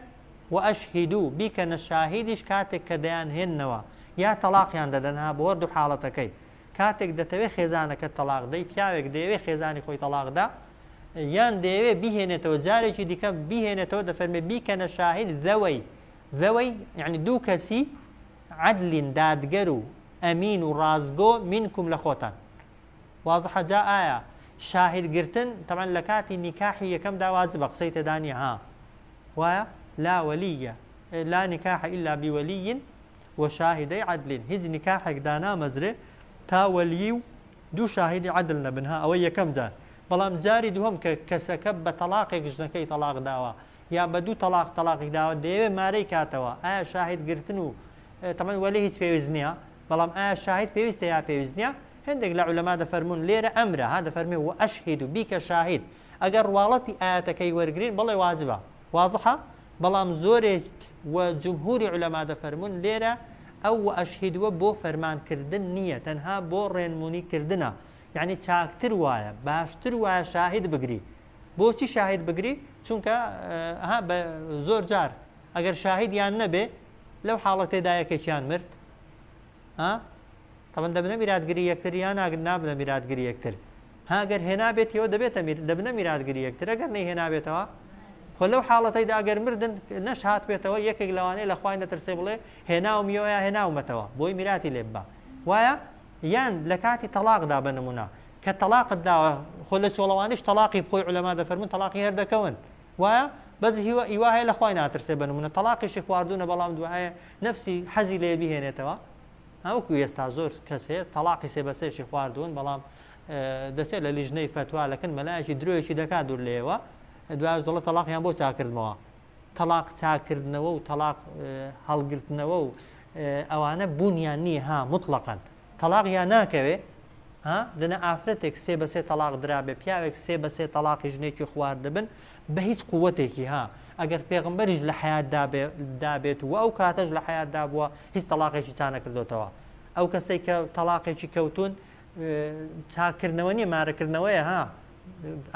و ئەش هیدو بیکەنە شاهیدیش کاتێک کە دەیان هێننەوە یا تەلاقیان دەدەنها بۆ دوو حاڵەتەکەی کاتێک دەتەوێ خێزانەکەت تەڵاق دەی پیاوێک دەیەوێ خێزانی خۆی تەڵاق دا یان دەیەوێ بیهێنێتەوە جارێکی دیکە بیهێنێتەوە دەفەرمێ بیکەنە شاهید ذەوەی ذەوەی یعنی دوو کەسی عەدلین دادگەر و ئەمین و ڕازگۆ منکم لە خۆتان وازحە جا ئایا شاهد گرتن تەمان لە کاتی نیکاحی یەکەم داوازی بە قسەی تێدانە ها وایە لا وەلیە لا نیکاح ئللا بیوەلیین و شاهیدەی عەدلین هیچ نیکاحێک دانامەزرێ تا وەلیی و دوو شاهیدی عەدل نەبن ها ئەوە یەکەم جار بەڵام جاری دووهەم کە کەسەکە بە تەڵاقێک ژنەکەی تەڵاق داوە یا بە دوو تەڵاق تەڵاقی داوە دەیەوێ مارەی کاتەوە ئایا شاهید گرتن و تەمەن وەلی هیچ پێویست نییە بەڵام ئایا شاهید پێویستە یا پێویست نییە هەندێک لە عولەما دەفەرمونون لێرە ئەمرە ها دەفەرمێ و ئەشهید و بیکە شاهید ئەگەر ڕواڵەتی ئاەتەکەی وەرگین بڵێ واجبە وازحە بەڵام زۆرێک و جمهوری علماء دەفەرموون لێرە ئەو واشهدوە بۆ فەرمان کردن نیە تەنها بۆ ڕێنمونی کردنە یانی چاکتر وایە باشتر وایە شاهد بگری بۆچی شاهد بگری چونکە ها بە زۆر جار ئەگەر شاهدیان نەبێ لەو حاڵەتێدا یەکێکیان مرد ها طبعا دەبنە میراتگری یەکتر یا نابنە میراتگری یەکتر هاگەر هێنابێتەوە دەبێتە دەبنە میراتگری یەکتر ئەگەر نەی هێنابێتەوە خۆ لەو حاڵەتەیدا ئەگەر مردن نەش هاات بێتەوە یەکێک لەوانەیە لە خوای نەترسێ بڵێ هێناو میۆە هێناومەتەوە بۆی میراتی لێ بە وایە یان لە کاتی تەلاقدا بە نمونە کە تەلاقت داوە خۆ لە چۆڵەوانش تەلاقی بخۆی علەما دەفەرمون تەلاقی هەردەکەون وایە بەس هیوا ئیوا هەیە لە خوای ناترسێ بە نمونە تەڵاقیشی خواردونە بەڵام دوایە نەفسی حەزی لێ بهێنێتەوە هەوەکو ئێستا زۆر کەس هەیە تەڵاقی سێ بەسێکی خواردون بەڵام دەچێت لە لیژنەی فتوا لەکن مەلایەکی درۆیەکی دەکات دوور لێەوە دواش دەڵە تەلاقیان بۆ چاکردنەوە تەلاق چاکردنەوە و تەلاق هەڵگرتنەوە و ئەوانە بوونیان نییە ها مطلقەن تەڵاق یا ناکەوێ ها دەنا ئافرەتێک سێ بەسێ تەلاق درابێ پیاوێک سێ بەسێ تەلاقی ژنێکی خواردبن بە هیچ قوتێکی ها ئەگەر پێغمبەریش لە حیات دابێت و ئەو کاتەش لە حیات دابووە هیچ تەلاقێکی تا نەکردوتەوە ئەو کەسێک کە تەلاقێکی کەوتون چاکردنەوە نیە مارەکردنەوەیە ها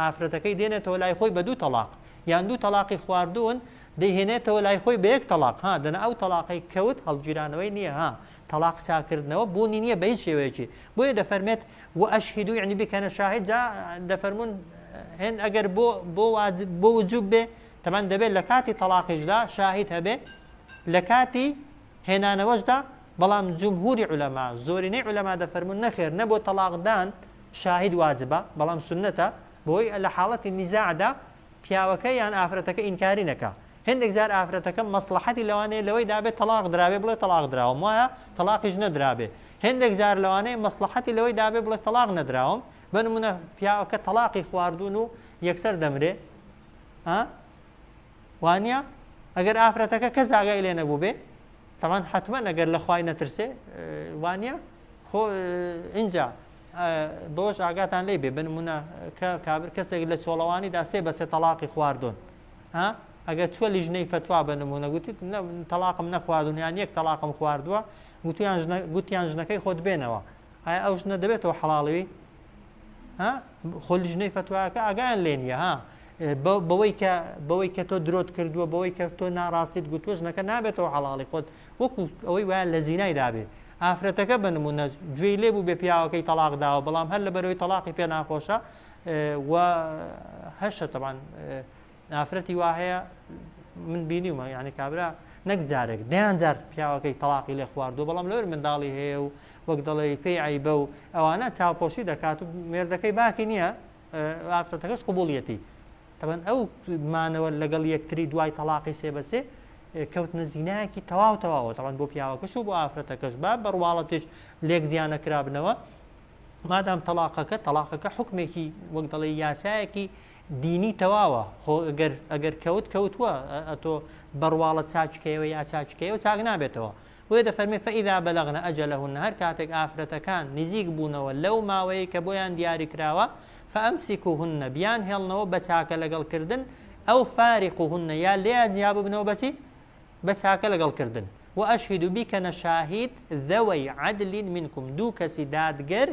ئافرەتەکەی دێنێتەوە لای خۆی بە دوو تەلاق یان دوو تەلاقی خواردون دەیهێنێتەوە لای خۆی بە یەک تەلاق ها دەنا ئەو تەلاقی کەوت هەڵگیرانەوەی نییە ها تەڵاق چاککردنەوە بوونی نییە بە هیچ شێوەیەکی بۆیە دەفەرمێت و ئەشهیدو یعنی بکەنە شاهد جا دەفەرمون هێن ئەگەر بۆ بۆ واجب بۆ وجوب بێ تەمان دەبێت لە کاتی تەلاقیشدا شاهید هەبێ لە کاتی هێنانەوەشدا بەڵام جمهوری علەما زۆرینەی علەما دەفەرمون نەخێر نە بۆ تەلاقدان شاهید واجبە بەڵام سنەتە بۆی لە حاڵەتی نیزاعدا پیاوەکە یان ئافرەتەکە ئینکاری نەکە هێندێک جار ئافرەتەکە مەسڵەحەتی لەوانەیە لەوەی دابێت تەڵاق درابێت بڵێت تەڵاق دراوم وایە تەڵاقیش نەدرابێت هێندێک جار لەوانەیە مەسڵەحەتی لەوەی دابێت بڵێت تەڵاق نەدراوم بە نمونە پیاوەکە تەڵاقی خواردون و یەکسەر دەمرێ ها وانە ئەگەر ئافرەتەکە کە زاگای لێ نەبوو بێ تەمان حتممە نەگەر لە خی نەترسێ وانە خۆ اینجا بۆش ئاگاتان لی بێ بنمونە کە کابر کەسێک لە چۆڵەوانیدا سێ بەسێ تەلاقی خواردون ها ئەگەر چوە لیژنەی فتوا بە نمونە گوتیت تەلاقم نەخواردون یان یەک تەلاقم خواردووە گوتیان گوتیان ژنەکەی خۆت بێنەوە ئایا ئەو ژنە دەبێتەوە حەڵاڵوی خۆ لیژنەی فتواکە ئاگیان لێ نیە ها بەوەی کە بەوەی کە تۆ درۆت کردووە بەوەی کە تۆ ناڕاستیت گوتووە ژنەکە نابێتەوە حەڵاڵی خۆت وەکو ئەوەی وایە لە زینای دابێت ئافرەتەکە بە نمونە گوێی لێ بوو بێ پیاوەکەی تەلاق داوە بەڵام هەر لە بەرەوەی تەلاقی پێ ناخۆشە وە هەشە تەبان ئافرەتی وا هەیە من بینیومە یعنی کابرا نەک جارێک دەیان جار پیاوەکەی تەلاقی لێ خواردو بەڵام لەوەر منداڵی هەیە و وەک دەڵێ پێی عیبە و ئەوانە چاوپۆشی دەکات و مێردەکەی باکی نییە ئافرەتەکەش قوبولیەتی تەبەن ئەو مانەوە لەگەڵ یەکتری دوای تەلاقی سێ بەسێ کەوت نزینایەکی تەواو تەواوە تەوان بۆ پیاوەکەش و بۆ ئافرەتەکەش با بەڕواڵەتیش لێک زیانە کرابنەوە مادام تەڵاقەکە تەڵاقەکە حکمێکی وەک دەڵێ یاسایەکی دینی تەواوە خۆ ئەگەر ئەگەر کەوت کەوتووە ئەتۆ بڕواڵە چاچکەیەوە یا چاچکەیەوە چاک نابێتەوە بۆیە دەفەرمێ فەئیدا بەلەغنە ئەجەلەهن هەر کاتێک ئافرەتەکان نزیک بوونەوە لەو ماوەیە کە بۆیان دیاری کراوە فەئەمسیکوهن بیان هێڵنەوە بە چاکە لەگەڵ کردن ئەو فارق و هونە یا لێیان جیا ببنەوە بەچی بەس هاکە لەگەڵ کردن. و اشهدو بیکەنە شاهید ذەوەی عدل منکم دوو کەسی دادگەر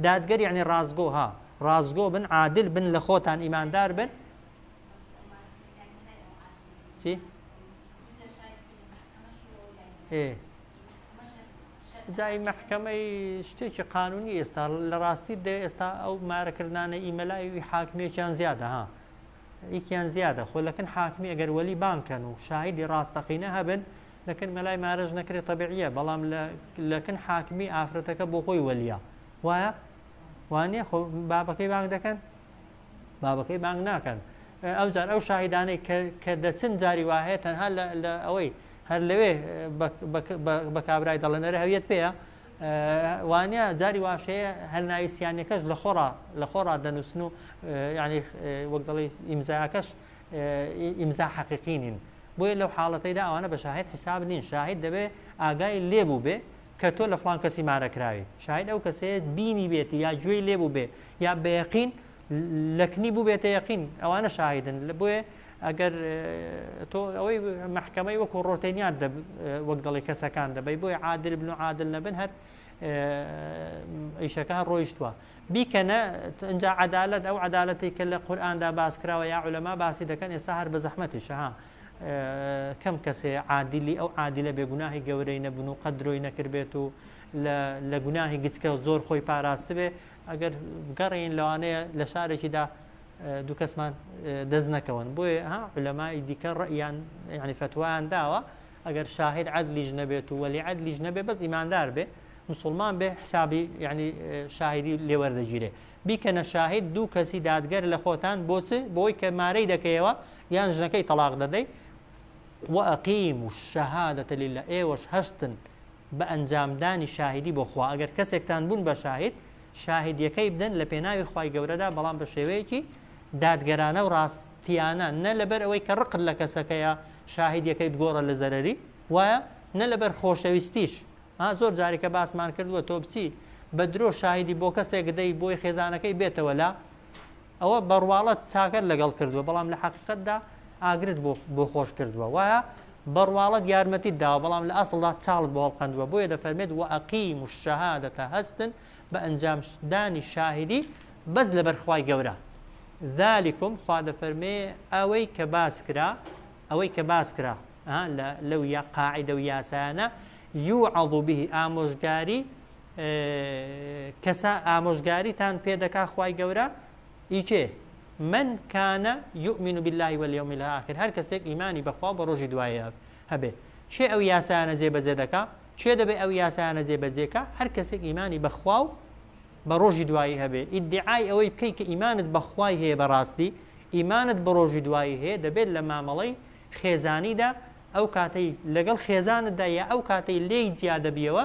دادگەر یەعنی ڕاستگۆ ها ڕاستگۆ بن عادل بن لە خۆتان ئیماندار بن چی؟ ئێ جای محکەمەی شتێکی قانونی ئێستا لە ڕاستی دە ئێستا ئەو مارەکردانە ئیمەلایوی حاکمێکیان زیادە ها یەکیان زیادە خۆ لەکن حاکمی ئەگەر وەلی بانگ کەن و شاهیدی ڕاستەقینە هەبن لەکن مەلای مارەش نەکرێ تەبعیە بەڵام لە لەکن حاکمی ئافرەتەکە بۆ خۆی وەلیە وایە وانە خۆ بابەکەی بانگ دەکەن بابەکەی بانگ ناکەن ئەو جار ئەو شاهیدانەی کە دەچن جاری وایە تەنها لە ئەوەی هەر لەوێ بە کابرای دەڵێنەرە هەویەت پێەیە وانیە جاری واش هەیە هەر ناوی سیانەکەش لە خۆڕا لە خۆڕا دەنووسن و یعنی وەک دەڵی ئیمزاکەش ئیمزا حەقیقی نین بۆیە لەو حاڵەتەیدا ئەوانە بە شاهد حیساب نین شاهد دەبێ ئاگای لێبوو بێ کە تۆ لە فلان کەسی مارەکراوی شاید ئەو کەسێت بینی بێتی یا گوێی لێبوو بێ یا بەیەقین لەکنی بوبێتە یەقین ئەوانە شاهیدن لە بۆیە ئەگەر تۆ ئەوەی محکەمەی وەکو ڕۆتێنیان وەک دەڵی کەسەکان دەبی بۆی عادل بن و عادل نەبن هەر ئیشەکە هەر ڕۆیشتووە بیکەنە ئەجا عدالت ئەو عدالەتی کە لە قورآاندا باسکراوە یا علەما باسی دەکەن ئێستا هەر بە زەحمەتی شەها کەم کەسێ عادلی ئەو عادلە بێ گوناهی گەورەی نەبن و قەدرۆی نەکردبێت و لە گوناهی گچکە زۆر خۆی پاراستبێ ئەگەر بگەڕێین لەوانەیە لە شارێکیدا دوو کەسمان دەست نەکەون بۆیە ها علەمای دیکە ڕئیان یعنی فتوایان داوە ئەگەر شاهد عدلیش نەبێت و وەلی عدلیش نەبێ بەس ئیماندار بێ مسلمان بێ حسابی یعنی شاهدی لێوەردەگیرێ بیکەنە شاهد دوو کەسی دادگەر لە خۆتان بۆچ بۆی کە مارەی دەکەیەوە یان ژنەکەی تەلاق دەدەی وەقیم و شەهادەتە للە ئێوەش هەستن بە ئەنجامدانی شاهیدی بۆ خوا، ئەگەر کەسێکتان بوون بە شاهید، شاهیدیەکەی بدەن لە پێناوی خوای گەورەدا بەڵام بە شێوەیەکی دادگەرانە و ڕاستیانە، نە لەبەر ئەوەی کە ڕقت لە کەسەکەیە شاهیدیەکەی بگۆڕە لە زەرەری، وایە، نە لەبەر خۆشەویستیش، ها زۆر جاریکە باسمان کردووە تۆ بچی بە درۆ شاهیدی بۆ کەسێک دەی بۆی خێزانەکەی بێتەوە لە ئەوە بە ڕواڵەت چاکەت لەگەڵ کردووە بەڵام لە حەقیقەتدا ئاگرت بۆ خۆش کردووە وایە بە ڕواڵەت یارمەتیت داوە بەڵام لە ئەسڵدا چاڵت بۆ هەڵقەندووە بۆیە دەفەرمێت و ئەقیم و شەهادەتە هەستن بە ئەنجامدانی شاهدی بەس لە بەرخوای گەورە ذلكم خوا دەفەرمێ ئەوەی کە باس کرا ئەوەی کە باس کرا لەو یا قاعدە و یاسایانە یوعض به ئامۆژگاری کەسە ئامۆژگاریتان پێ دەکا خوای گەورە ی کێ من کان یؤمن بالله والیوم الاخر هەر کەسێک ئیمانی بەخوا و بە ڕۆژی دوایە هەبێ کێ ئەو یاسایانە جێبەجێ دەکا کێ دەبێ ئەو یاسایانە جێبەجێکە هەر کەسێک ئیمانی بەخوا و بە ڕۆژی دوایی هەبێ ئیدعای ئەوەی بکەی کە ئیمانت بەخوای هەیە بەڕاستی ئیمانت بە ڕۆژی دوایی هەیە دەبێت لە مامەڵەی خێزانیدا ئەو کاتەی لەگەڵ خێزانتدا یا ئەو کاتەی لێی جیا دەبیەوە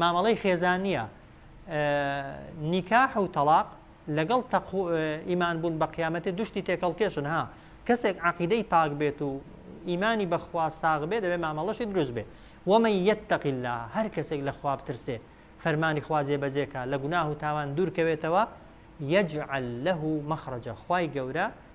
مامەڵەی خێزانیە نیکاح و تەڵاق لەگەڵ تەقو ئیمان بوون بە قیامەتێ دوشتی تێکەڵ کێشن ها کەسێک عقیدەی پاک بێت و ئیمانی بەخوا ساغ بێ دەبێ مامەڵەشی دروست بێ وەمە یەتەق الله هەر کەسێک لە خواب ترسێ فەرمانی خوا جێبەجێکە لە گوناه و تاوان دوورکەوێتەوە یەجعل له مەخرەجە خوای گەورە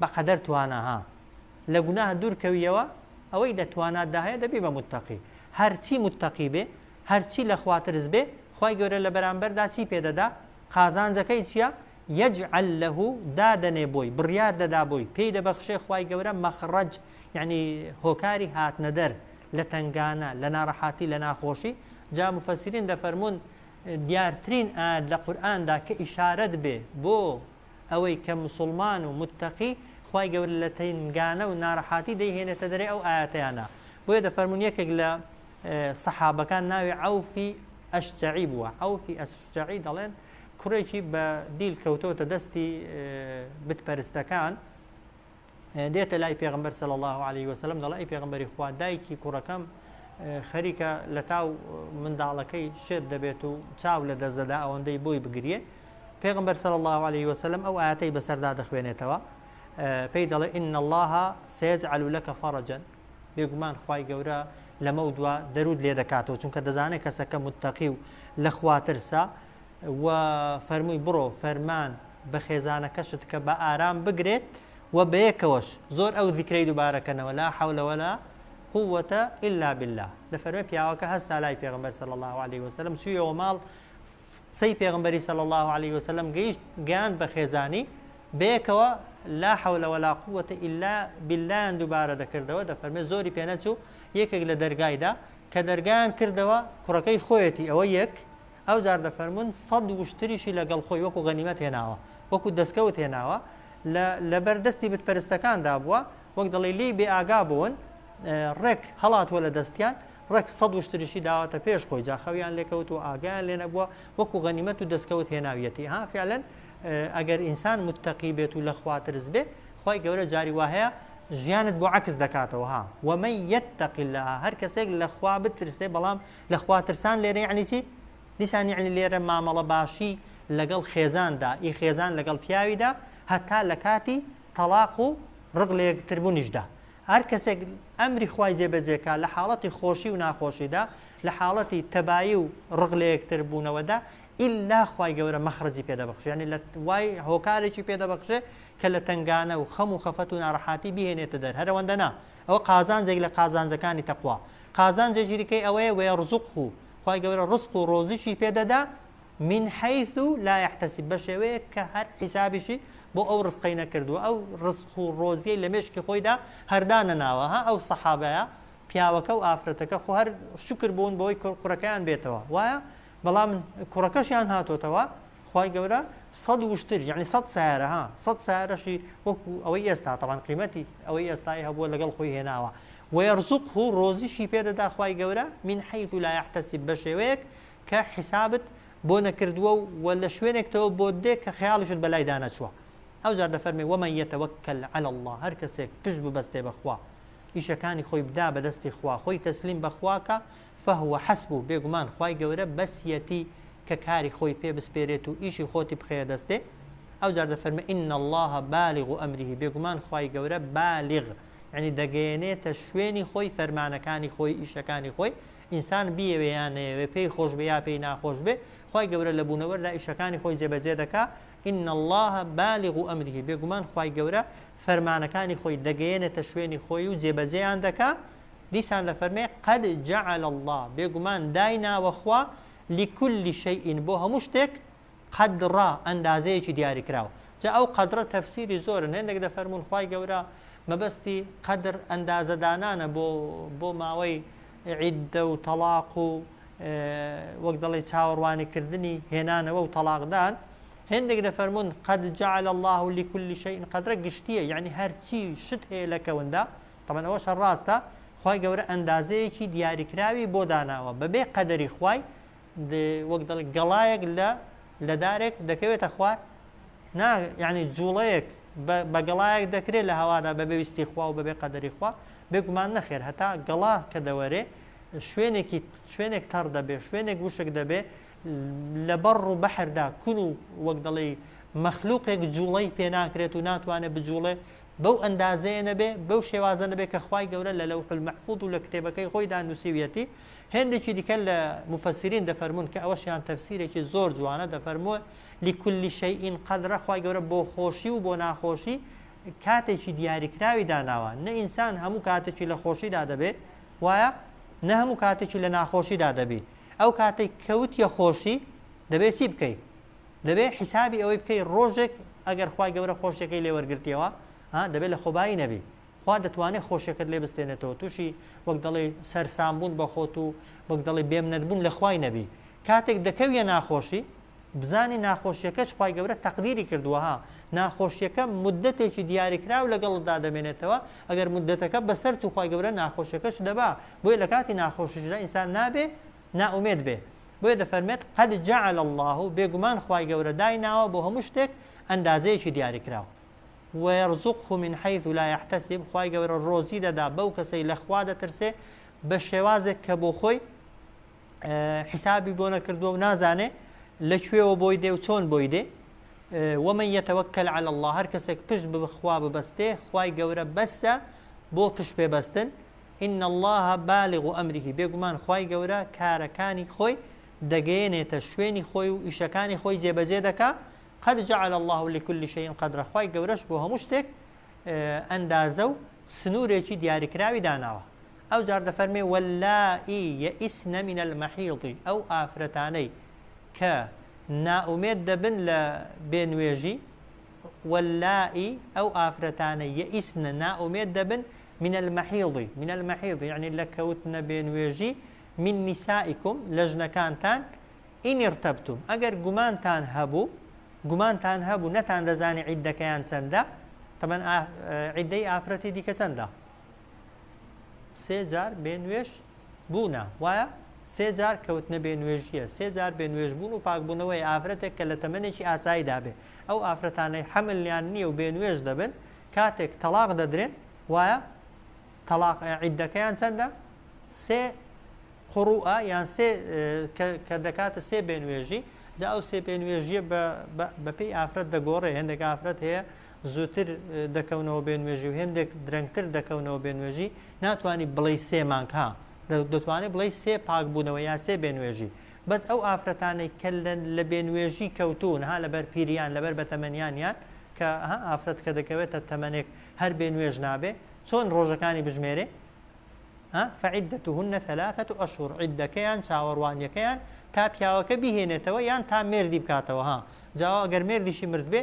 بەقەدەر توانا ها لە گوناه دوور کەویەوە ئەوەی لە توانات دا هەیە دەبی بە موتەقی هەرچی موتەقی بێ هەرچی لە خوا ترس بێ خوای گەورە لە بەرامبەر دا چی پێ دەدا قازانجەکەی چیە یجعل له دادەنێ بۆی بڕیار دەدا بۆی پێی دەبەخشێ خوای گەورە مەخڕەج یعنی هۆکاری هاتنە دەر لە تەنگانە لە ناڕەحاتی لە ناخۆشی جا مفسرین دەفەرمونون دیارترین ئاەت لە قورئاندا کە ئیشارەت بێ بۆ ئەوەی کە موسوڵمان و متەقی خوای گەورە لە تەنگانە و نارەحاتی دەیهێنێتە دەرێ ئەو ئایەتەیانە بۆیە دەفەرموون یەکێک لە سەحابەکان ناوی عەوفی ئەشجەعی بووە عەوفی ئەشجەعی دەڵێن کوڕێکی بە دیل کەوتۆتە دەستی بتپەرستەکان دێتە لای پێغەمبەر صلی اللە علیە وسلم دەڵێ ئەی پێغەمبەری خوا دایکی کوڕەکەم خەریکە لە تاو منداڵەکەی شێت دەبێت و چاو لە دەستدەدا ئەوەندەی بۆی بگریێ پێغمبەر صلی الله عليه وسلم ئەو ئاەتەی بەسەردا دەخوێنێتەوە پێی دەڵێ ان الله سيجعل لك فرجا بێگومان خی گەورە لەمە و دوا دەرود لێ دەکاتەوە چونکە دەزانێت کەسەکە متتەقی و لە خواترسا و فەرمووی، بڕۆ فەرمان بە خێزانەکەشت کە بە ئارام بگرێت و بەیەکەوەش زۆر ئەو زیکرەی دووبارە کەنەوە، لا حول ولا قووەتە الا باللە. دەفەرمێ پیاوەکە هەستا لای پێغەمبەر صلی اللە علیە وسلم چوویەوە ماڵ، قسەی پێغەمبەری صلی اللە علیە وسلم گەیشت گەیاند بە خێزانی، بەیەکەوە لا حول ولا قووەتە الا باللەیان دووبارە دەکردەوە، دەفەرمێ زۆری پێنەچوو یەکێک لە دەرگایدا کە دەرگایان کردەوە کوڕەکەی خۆیەتی ئەوە یەک، ئەوجار دەفەرموون سەد وشتریشی لەگەڵ خۆی وەکو غەنیمەت هێناوە، وەکو دەستکەوت هێناوە، لە لەبەر دەستی بت پەرستەکاندا بووە، وەک دەڵێی لێی بێ ئاگا بوون، ڕێک هەڵاتووە لە دەستیان، ڕێک سەد وشتریشی داوەتە پێش خۆی، جا خەویان لێ کەوتووە، ئاگایان لێ نەبووە، وەکو غەنیمەت و دەستکەوت هێناویەتی، ها فیعلەن ئەگەر ئینسان متەقی بێت و لەخوا ترس بێ، خوای گەورە جاری وا هەیە ژیانت بۆ عەکس دەکاتەوە، ها، ومن یتق اللە، هەر کەسێک لەخوا بترسێ، بەڵام لە خوا ترسان لێرە یەعنی چی؟ دیسان یەعنی لێرە مامەڵە باشی لەگەڵ خێزاندا، ئی خێزان لەگەڵ پیاویدا هەتا لە کاتی تەڵاق و ڕق لە یەکتربوونیشدا. هەر کەسێک ئەمری خوای جێبەجێ کا لە حاڵەتی خۆشی و ناخۆشیدا، لە حاڵەتی تەبایی و ڕق لە یەکتربوونەوەدا، ئیلا خوای گەورە مەخرەجی پێ دەبەخشێ، یەعنی لە وای هۆکارێکی پێ دەبەخشێ کە لە تەنگانە و خەم و خەفەت و ناڕەحاتی بیهێنێتە دەر، هەر ئەوەندە نا، ئەوە قازانجێک لە قازانجەکانی تەقوا. قازانجە جیرکەی ئەوەیە ویرزقه خوای گەورە ڕزق و ڕۆزیی پێ دەدا من حیث لا یحتسب بەشێوەیەک کە هەر حیسابیشی بۆ ئەو ڕزقەی نەکردووە ئەو ڕزق و ڕۆزیەی لە مێشکی خۆیدا هەردانەناوە ها ئەو سەحابەیە پیاوەکە و ئافرەتەکە خۆ هەر شکر بوون بەوەی کوڕەکەیان بێتەوە وایە بەڵام کوڕەکەشیان هاتۆتەوە خوای گەورە سەد وشتر یعنی سەد سیارە ها سەد سیارەشی وەکو ئەوەی ئێستا تەوان قیمەتی ئەوەی ئێستای هەبووە لەگەڵ خۆی هێناوە وەرزق و ڕۆزیشی پێدەدا خوای گەورە من حیث لا يحتسب بە شێوەیەک کە حیسابت بۆ نەکردووە و وە لە شوێنێکتەوە بۆ دێ کە خەیاڵیشت بەلای دانەچووە ئەو جار دەفەرمی وەمە یەتەوەکەل على الله هەر کەسێک پشت ببەستێ بەخوا ئیشەکانی خۆی بدا بەدەستی خوا خۆی تەسلیم بەخواکە فهو حسبو، بێگومان خوای گەورە بەسیەتی کە کاری خۆی پێ بسپێرێت و ئیشی خۆتی بخەیە دەستێ، ئەوجار دەفەرمێ ان اللە بالغ امره، بێگومان خوای گەورە بالغ، یەعنی دەگەیەنێتە شوێنی خۆی فەرمانەکانی خۆی، ئیشەکانی خۆی، ئینسان بیەوێ یا نەیەوێ، پێی خۆش بێ یا پێی ناخۆش بێ، خوای گەورە لە بوونەوەردا ئیشەکانی خۆی جێبەجێ دەکا، ان اللە بالغ امره، بێگومان خوای گەورە فەرمانەکانی خۆی دەگەیەنێتە شوێنی خۆی و جێبەجێیان دەکا، دیسان دەفەرمێ، قد جعل اللە، بێگومان دایناوە خوا، لکل شیء، بۆ هەموو شتێک، قدرا، ئەندازەیەکی دیاریکراو. جا ئەو قدرە تەفسیری زۆرن، هێندێک دەفەرموون خوای گەورە مەبەستی قدر ئەندازەدانانە بۆ بۆ ماوەی عیددە و تەڵاق و وەک دەڵێی چاوەڕوانیکردنی هێنانەوە و تەڵاقدان، هێندێک دەفەرموون، قد جعل اللە لکل شیء قدرە گشتییە یەعنی هەرچی شت هەیە لە کەوندا، تەبعەن ئەوەشە ڕاستە، خوای گەورە ئەندازەیەکی دیاریکراوی بۆ داناوە، بەبێ قەدەری خوای، وەک دەڵێن گەڵایەک لە لە دارێک دەکەوێتە خوار؟ نا، یەعنی جووڵەیەک بە بە گەڵایەک دەکرێ لە هەوادا بەبێ ویستی خوا و بەبێ قەدەری خوا؟ بێگومان نەخێر، هەتا گەڵا کە دەوەرێ شوێنێکی شوێنێک تەڕ دەبێ، شوێنێک وشک دەبێ، لە بەڕ و بەحردا کون و وەک دەڵێی مەخلوقێک جوڵەی پێ ناکرێت و ناتوانێ بجوڵێ بەو ئەندازەیە نەبێ بەو شێوازە نەبێ کە خوای گەورە لە لەوح المحفوظ و لە کتێبەکەی خۆیدا نووسیویەتی هێندێکی دیکە لە مفسرین دەفەرمون کە ئەوەشیان تەفسیرێکی زۆر جوانە دەفەرمووە لكل شيء قدرە خوای گەورە بۆ خۆشی و بۆ ناخۆشی کاتێکی دیاریکراوی داناوە نە ئینسان هەموو کاتێکی لە خۆشیدا دەبێ وایە نە هەموو کاتێکی لە ناخۆشیدا دەبی ئەو کاتەی کەوتیە خۆشی دەبێ چی بکەی دەبێ حیسابی ئەوەی بکەی ڕۆژێک ئەگەر خوای گەورە خۆشیەکەی لێ وەرگرتیەوە ها دەبێ لە خۆبایی نەبی خوا دەتوانێت خۆشیەکەت لێ بستێنێتەوە تووشی وەک دەڵێ سەرسامبوون بە خۆت و وەک دەڵێ بێمنەت بوون لە خوای نەبی کاتێک دەکەویە ناخۆشی بزانی ناخۆشیەکەش خوای گەورە تەقدیری کردووە ها ناخۆشیەکە مدەتێکی دیاریکراو لەگەڵتدا دەمێنێتەوە ئەگەر مدەتەکە بەسەر چوو خوای گەورە ناخۆشیەکەش دەبا بۆیە لە کاتی ناخۆشیشدا ئینسان نابێ ناومێت بێ بۆیە دەفەرمێت قەد جعل الله و بێگومان خوای گەورە دای ناوە بۆ هەموو شتێک ئەندازەیەکی دیاریکراو ويرزقه من حيث لا يحتسب خوای گەورە ڕۆزی دەدا بەو کەسەی لەخوا دەترسێ بە شێوازێک کە بۆ خۆی حیسابی بۆ نەکردووە و نازانێ لە کوێوە بۆی دێ و چۆن بۆی دێ ومە یەتەوەکەل على الله هەر کەسێک پشت بخوا ببەستێ خوای گەورە بەسە بۆ پشت پێبەستن إن الله بالغ أمره بێگومان خوای گەورە کارەکانی خۆی دەگەیەنێتە شوێنی خۆی و ئیشەکانی خۆی جێبەجێ دەکا قد جعل الله لكل شيء قدر خوای گەورەش بۆ هەموو شتێک ئەندازە و سنوورێکی دیاریکراوی داناوە ئەو جار دەفەرمێ واللائی یئسن من المحیض ئەو ئافرەتانەی کە نائومێد دەبن لە بێ نوێژی واللائی ئەو ئافرەتانەی یئسن نائومێد دەبن من المحیض من المحیض یعنی لە کەوتنە بێ نوێژی من نسائکم لە ژنەکانتان ئین ارتبتم ئەگەر گومانتان هەبوو گومانتان هەبوو نەتان دەزانی عیدەکەیان چەندە تەبەن عیدەی ئافرەتی دیکە چەندە سێ جار بێ نوێژ بوونە وایە سێ جار کەوتنە بێ نوێژیە سێ جار بێ نوێژ بوون و پاکبوونەوەی ئافرەتێک کە لە تەمەێکی ئاسایی دابێ ئەو ئافرەتانەی حەملیان نییە و بێ نوێژ دەبن کاتێک تەلاق دەدرێن وایە تەلاق عیدەکەیان چەندە سێ قڕوە یان سێ کە دەکاتە سێ بێنوێژی جا ئەو سێ پێنوێژیە بەپی ئافرەت دەگۆڕێ هەندێک ئافرەت هەیە زووتر دەکەونەوە بێ نوێژی و هێندێک درەنگتر دەکەونەوە بێ نوێژی ناتوانانی بڵێی سێ مانگ ها دەتوانێت بڵێی سێ پاک بوونەوە یا سێ بێ نوێژی بەس ئەو ئافرەتانەی کە لە بێ نوێژی کەوتون ها لەبەر پیریان لەبەر بە تەمەنیانیان کە ها ئافرەت کە دەکەوێتە تەمەنێک هەر بێ نوێژ نابێ چۆن ڕۆژەکانی بژمێرێ فعدتهن ثلاثة أشهر عدەکەیان چاوەڕوانیەکەیان تا پیاوەکە بیهێنێتەوە یان تا مێردی بکاتەوە ها جاوا ئەگەر مێردیشی مرد بێ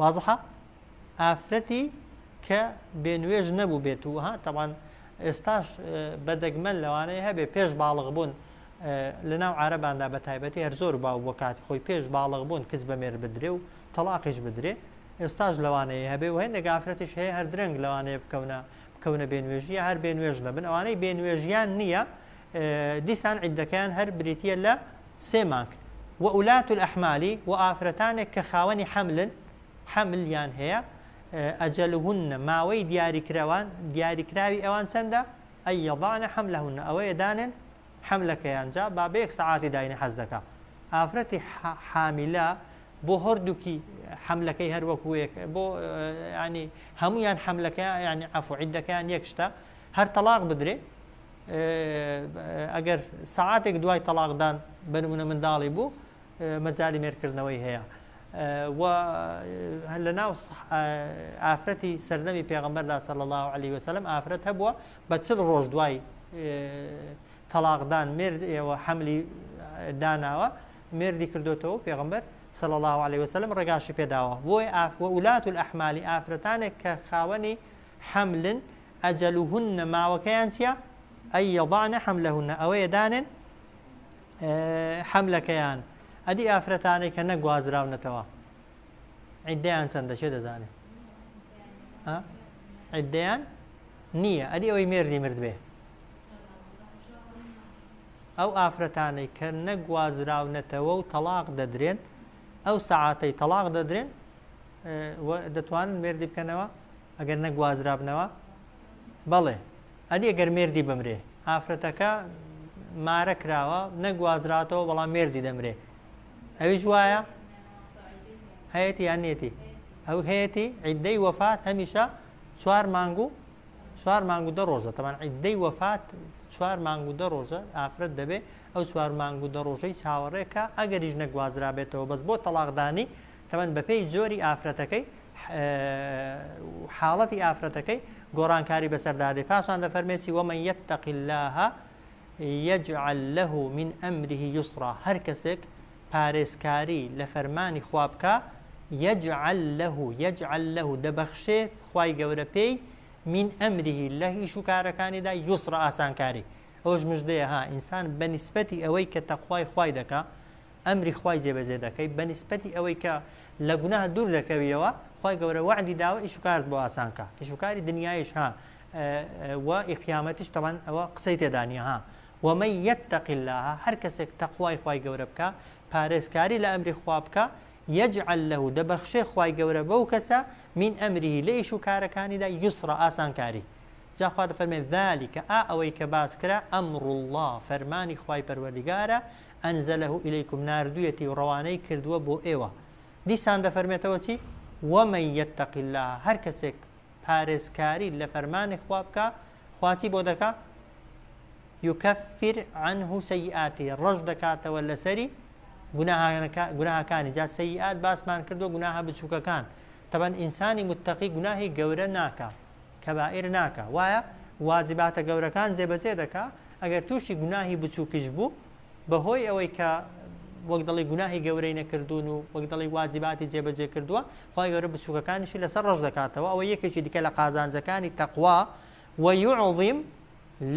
وازحە ئافرەتی کە بێ نوێژ نەبوو بێت و ها تەوان ئێستاش بەدەگمەن لەوانەیە هەبێ پێش باڵغ بوون لە ناو عرباندا بە تایبەتی هەر زۆر باو بۆ کاتی خۆی پێش باڵغ بوون کچ بە مێر بدرێ و تەلاقیش بدرێ ئێستاش لەوانەیە هەبێ و هەندێک ئافرەتیش هەیە هەر درەنگ لەوانەیە بکەونە بکەونە بێنوێژیە هەر بێنوێژ نەبن ئەوانەی بێنوێژیان نییە دیسان عیدەکەیان هەر بریتە لە سێ مانگ، وولاة الاحمالی، و ئافرەتانێک کە خاوەنی حەملن، حەمل، یان هەیە، اجلهن، ماوەی دیاریکراوان، دیاریکراوی ئەوان چەندە، ای یضعن حملهن، ئەوەیە دانێن حەملەکەیان، جا با بەیەک سەعاتی داینێ حەز دەکا ئافرەتی حامیلە بۆ هەردووکی حەملەکەی هەر وەکو یەکە، بۆ یانی هەموویان حەملەکەیان یانی عەفو عیدەکەیان یەک شتە، هەر تەڵاق بدرێ، ئەگەر سەعاتێک دوای تەڵاقدان بە نمونە منداڵی بوو مەجای مێرکردنەوەی هەیە و هەر لە ناو ئافرەتی سەردەمی پێغمبەردا سەل الله عليه وسلم ئافرەت هەبووە بە چل ڕۆژ دوای تەلاقدان مرد ئێوە حملی داناوە مردی کردوێتەوە پێغمبەر سەل الله عليه وسلم ڕێگاشی پێداوە بۆی ئاف وولات و ئەحمالی ئافرەتانێک کە خاوەنی حملن ئەجەلوهن ماوەکەیان چیە ئەی یەضەعن حەملەهن ئەوەیە دانێن حەملەکەیان ئەدی ئافرەتانەی کە نەگوازراونەتەوە عیددەیان چەندە چێ دەزانێت عیددەیان نییە ئەدی ئەوەی مێردی مرد بێ ئەو ئافرەتانەی کە نەگوازراونەتەوە و تەلاق دەدرێن ئەو سەعاتەی تەلاق دەدرێن و دەتوانن مێردی بکەنەوە ئەگەر نەگوازرابنەوە بەڵێ ئەدی ئەگەر مێردی بمرێ ئافرەتەکە مارە کراوە نەگوازراتەوە بەڵام مێردی دەمرێ ئەویش وایە هەیەتی یان نێتی ئەو هەیەتی عیددەی وەفات هەمیشە چوار مانگ و چوار مانگ و دە ڕۆژە تەمان عیددەی وەفات چوار مانگ و دە ڕۆژە ئافرەت دەبێ ئەو چوار مانگ و دە ڕۆژەی چاوەڕێکە ئەگەریش نەگوازرابێتەوە بەس بۆ تەلاقدانی تەمەن بەپێی جۆری ئافرەتەکەی و حاڵەتی ئافرەتەکەی گۆڕانکاری بەسەردا دێ پاشان دەفەرمێتی ومن یتق الله یجعل له من امره یسرا هەر کەسێک پارێزکاری لە فەرمانی خوا بکە یجعل له یجعل له دەبەخشێ خوای گەورە پێی من امره لە ئیش و کارەکانیدا یسرا ئاسانکاری ئەوش مژدەیە ها ئینسان بە نیسبەتی ئەوەی کە تەخوای خوای دەکا ئەمری خوای جێبەجێ دەکەی بەنیسبەتی ئەوەی کە لە گوناه دوور دەکەویەوە خوای گەورە وەعدی داوە ئیش و کارت بۆ ئاسان کا ئیش و کاری دنیایش ها و ئی قیامەتیش تەبان ئەوە قسەی تێدا نیە ها ومن یتق اللە هەر کەسێک تەقوای خوای گەورە بکا پارێزکاری لە ئەمری خوا بکا یجعل له دەبەخشێ خوای گەورە بەو کەسە من امره لە ئیش و کارەکانیدا یسرا ئاسانکاری جا خوا دەفەرمێ ذلک ئا ئەوەی کە باس کرا امر اللە فەرمانی خوای پەروەردگارە انزله الیکم ناردویەتی و ڕەوانەی کردووە بۆ ئێوە دیسان دەفەرمێتەوە چی ومن یتق اللە هەر کەسێک پارێزکاری لە فەرمانی خوا بکا خوا چی بۆ دەکا یکفر عنه سیئاتی ڕەش دەکاتەوە لەسەری گوناهەکانی جا سیئات باسمان کردو گوناهە بچووکەکان تەبەن ئینسانی متتەقی گوناهی گەورە ناکا کەبائیر ناکا وایە واجباتە گەورەکان جێبەجێ دەکا ئەگەر تووشی گوناهی بچووکیش بوو بەهۆی ئەوەی کە وەک دەڵی گوناهی گەورەی نەکردوون و وەک دەڵی واجباتی جێبەجێ کردووە خی گەورە بچووکەکانیشی لەسەر ڕژ دەکاتەوە ئەوە یەکێکی دیکە لە قازانجەکانی تەقوا وەیعظیم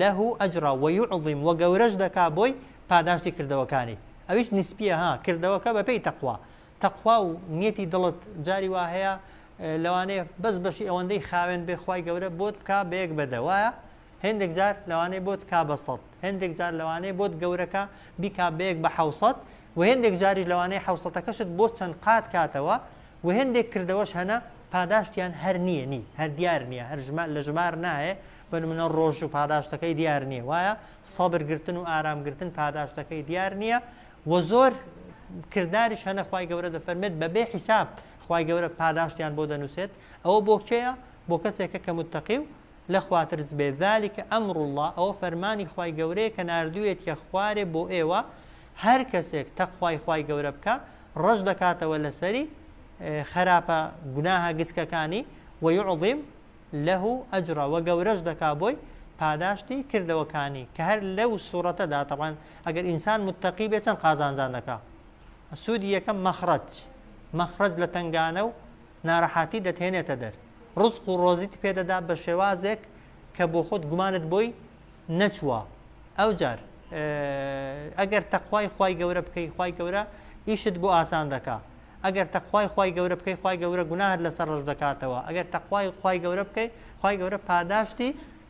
له ئەجرا وەیعظیم وە گەورەش دەکا بۆی پاداشتی کردەوەکانی ئەویش نسپیە ها کردەوەکە بەپی تەقوا تەقوا و نیەتی دڵت جاری وا هەیە لەوانەیە بەس بەشی ئەوەندەی خاوێن بێ خوای گەورە بۆت بکا بە یەک بەدە وایە هەندێک جار لەوانەیە بۆت کا بە سەد هەندێک جار لەوانەیە بۆت گەورەکە بیکا بە یەک بە حوسەت و هەندێک جاریش لەوانەیە حوسەتەکەشت بۆ چەند قات کاتەوە و هەندێک کردەوەش هەنە پاداشتیان هەر نییە نی هەر دیار نییە هەر ژمار لە ژمار نایە بە منە ڕۆژ و پاداشتەکەی دیار نییە وایە سەبرگرتن و ئارامگرتن پاداشتەکەی دیار نییە و زۆر کرداریش هەنەخوای گەورە دەفەرمێت بەبێ حیساب خوای گەورە پاداشتیان بۆ دەنوسێت ئەوە بۆ کێیە بۆ کەسێکە کە متەقی و لە خوا ترس بێت ذلک امر اللە ئەوە فەرمانی خوای گەورەیە کە ناردویەتیە خوارێ بۆ ئێوە هەر کەسێک تەقوای خوای گەورە بکا ڕەش دەکاتەوە لەسەری خراپە گوناهە گچکەکانی ویعظیم له اجرا و گەورەش دەکا بۆی پاداشتی کردەوەکانی کە هەر لەو سوورەتەدا تەبان ئەگەر ئینسان متەقی بێ چەند قازانجان دەکا سوودی یەکەم مەخرەج مەخرەج لە تەنگانە و ناڕەحاتی دەتهێنێتە دەر ڕزق و ڕۆزیت پێدەدا بە شێوازێک کە بۆ خۆت گومانت بۆی نەچووە ئەو جار ئەگەر تەخوای خی گەورە بکەی خی گەورە ئیشت بۆ ئاسان دەکا ئەگەر تەخوای خی گەورە بکەی خی گەورە گوناهر لەسەر ڕژ دەکاتەوە ئەگەر تەخوای خی گەورە بکەی خی گەورە پاداشتی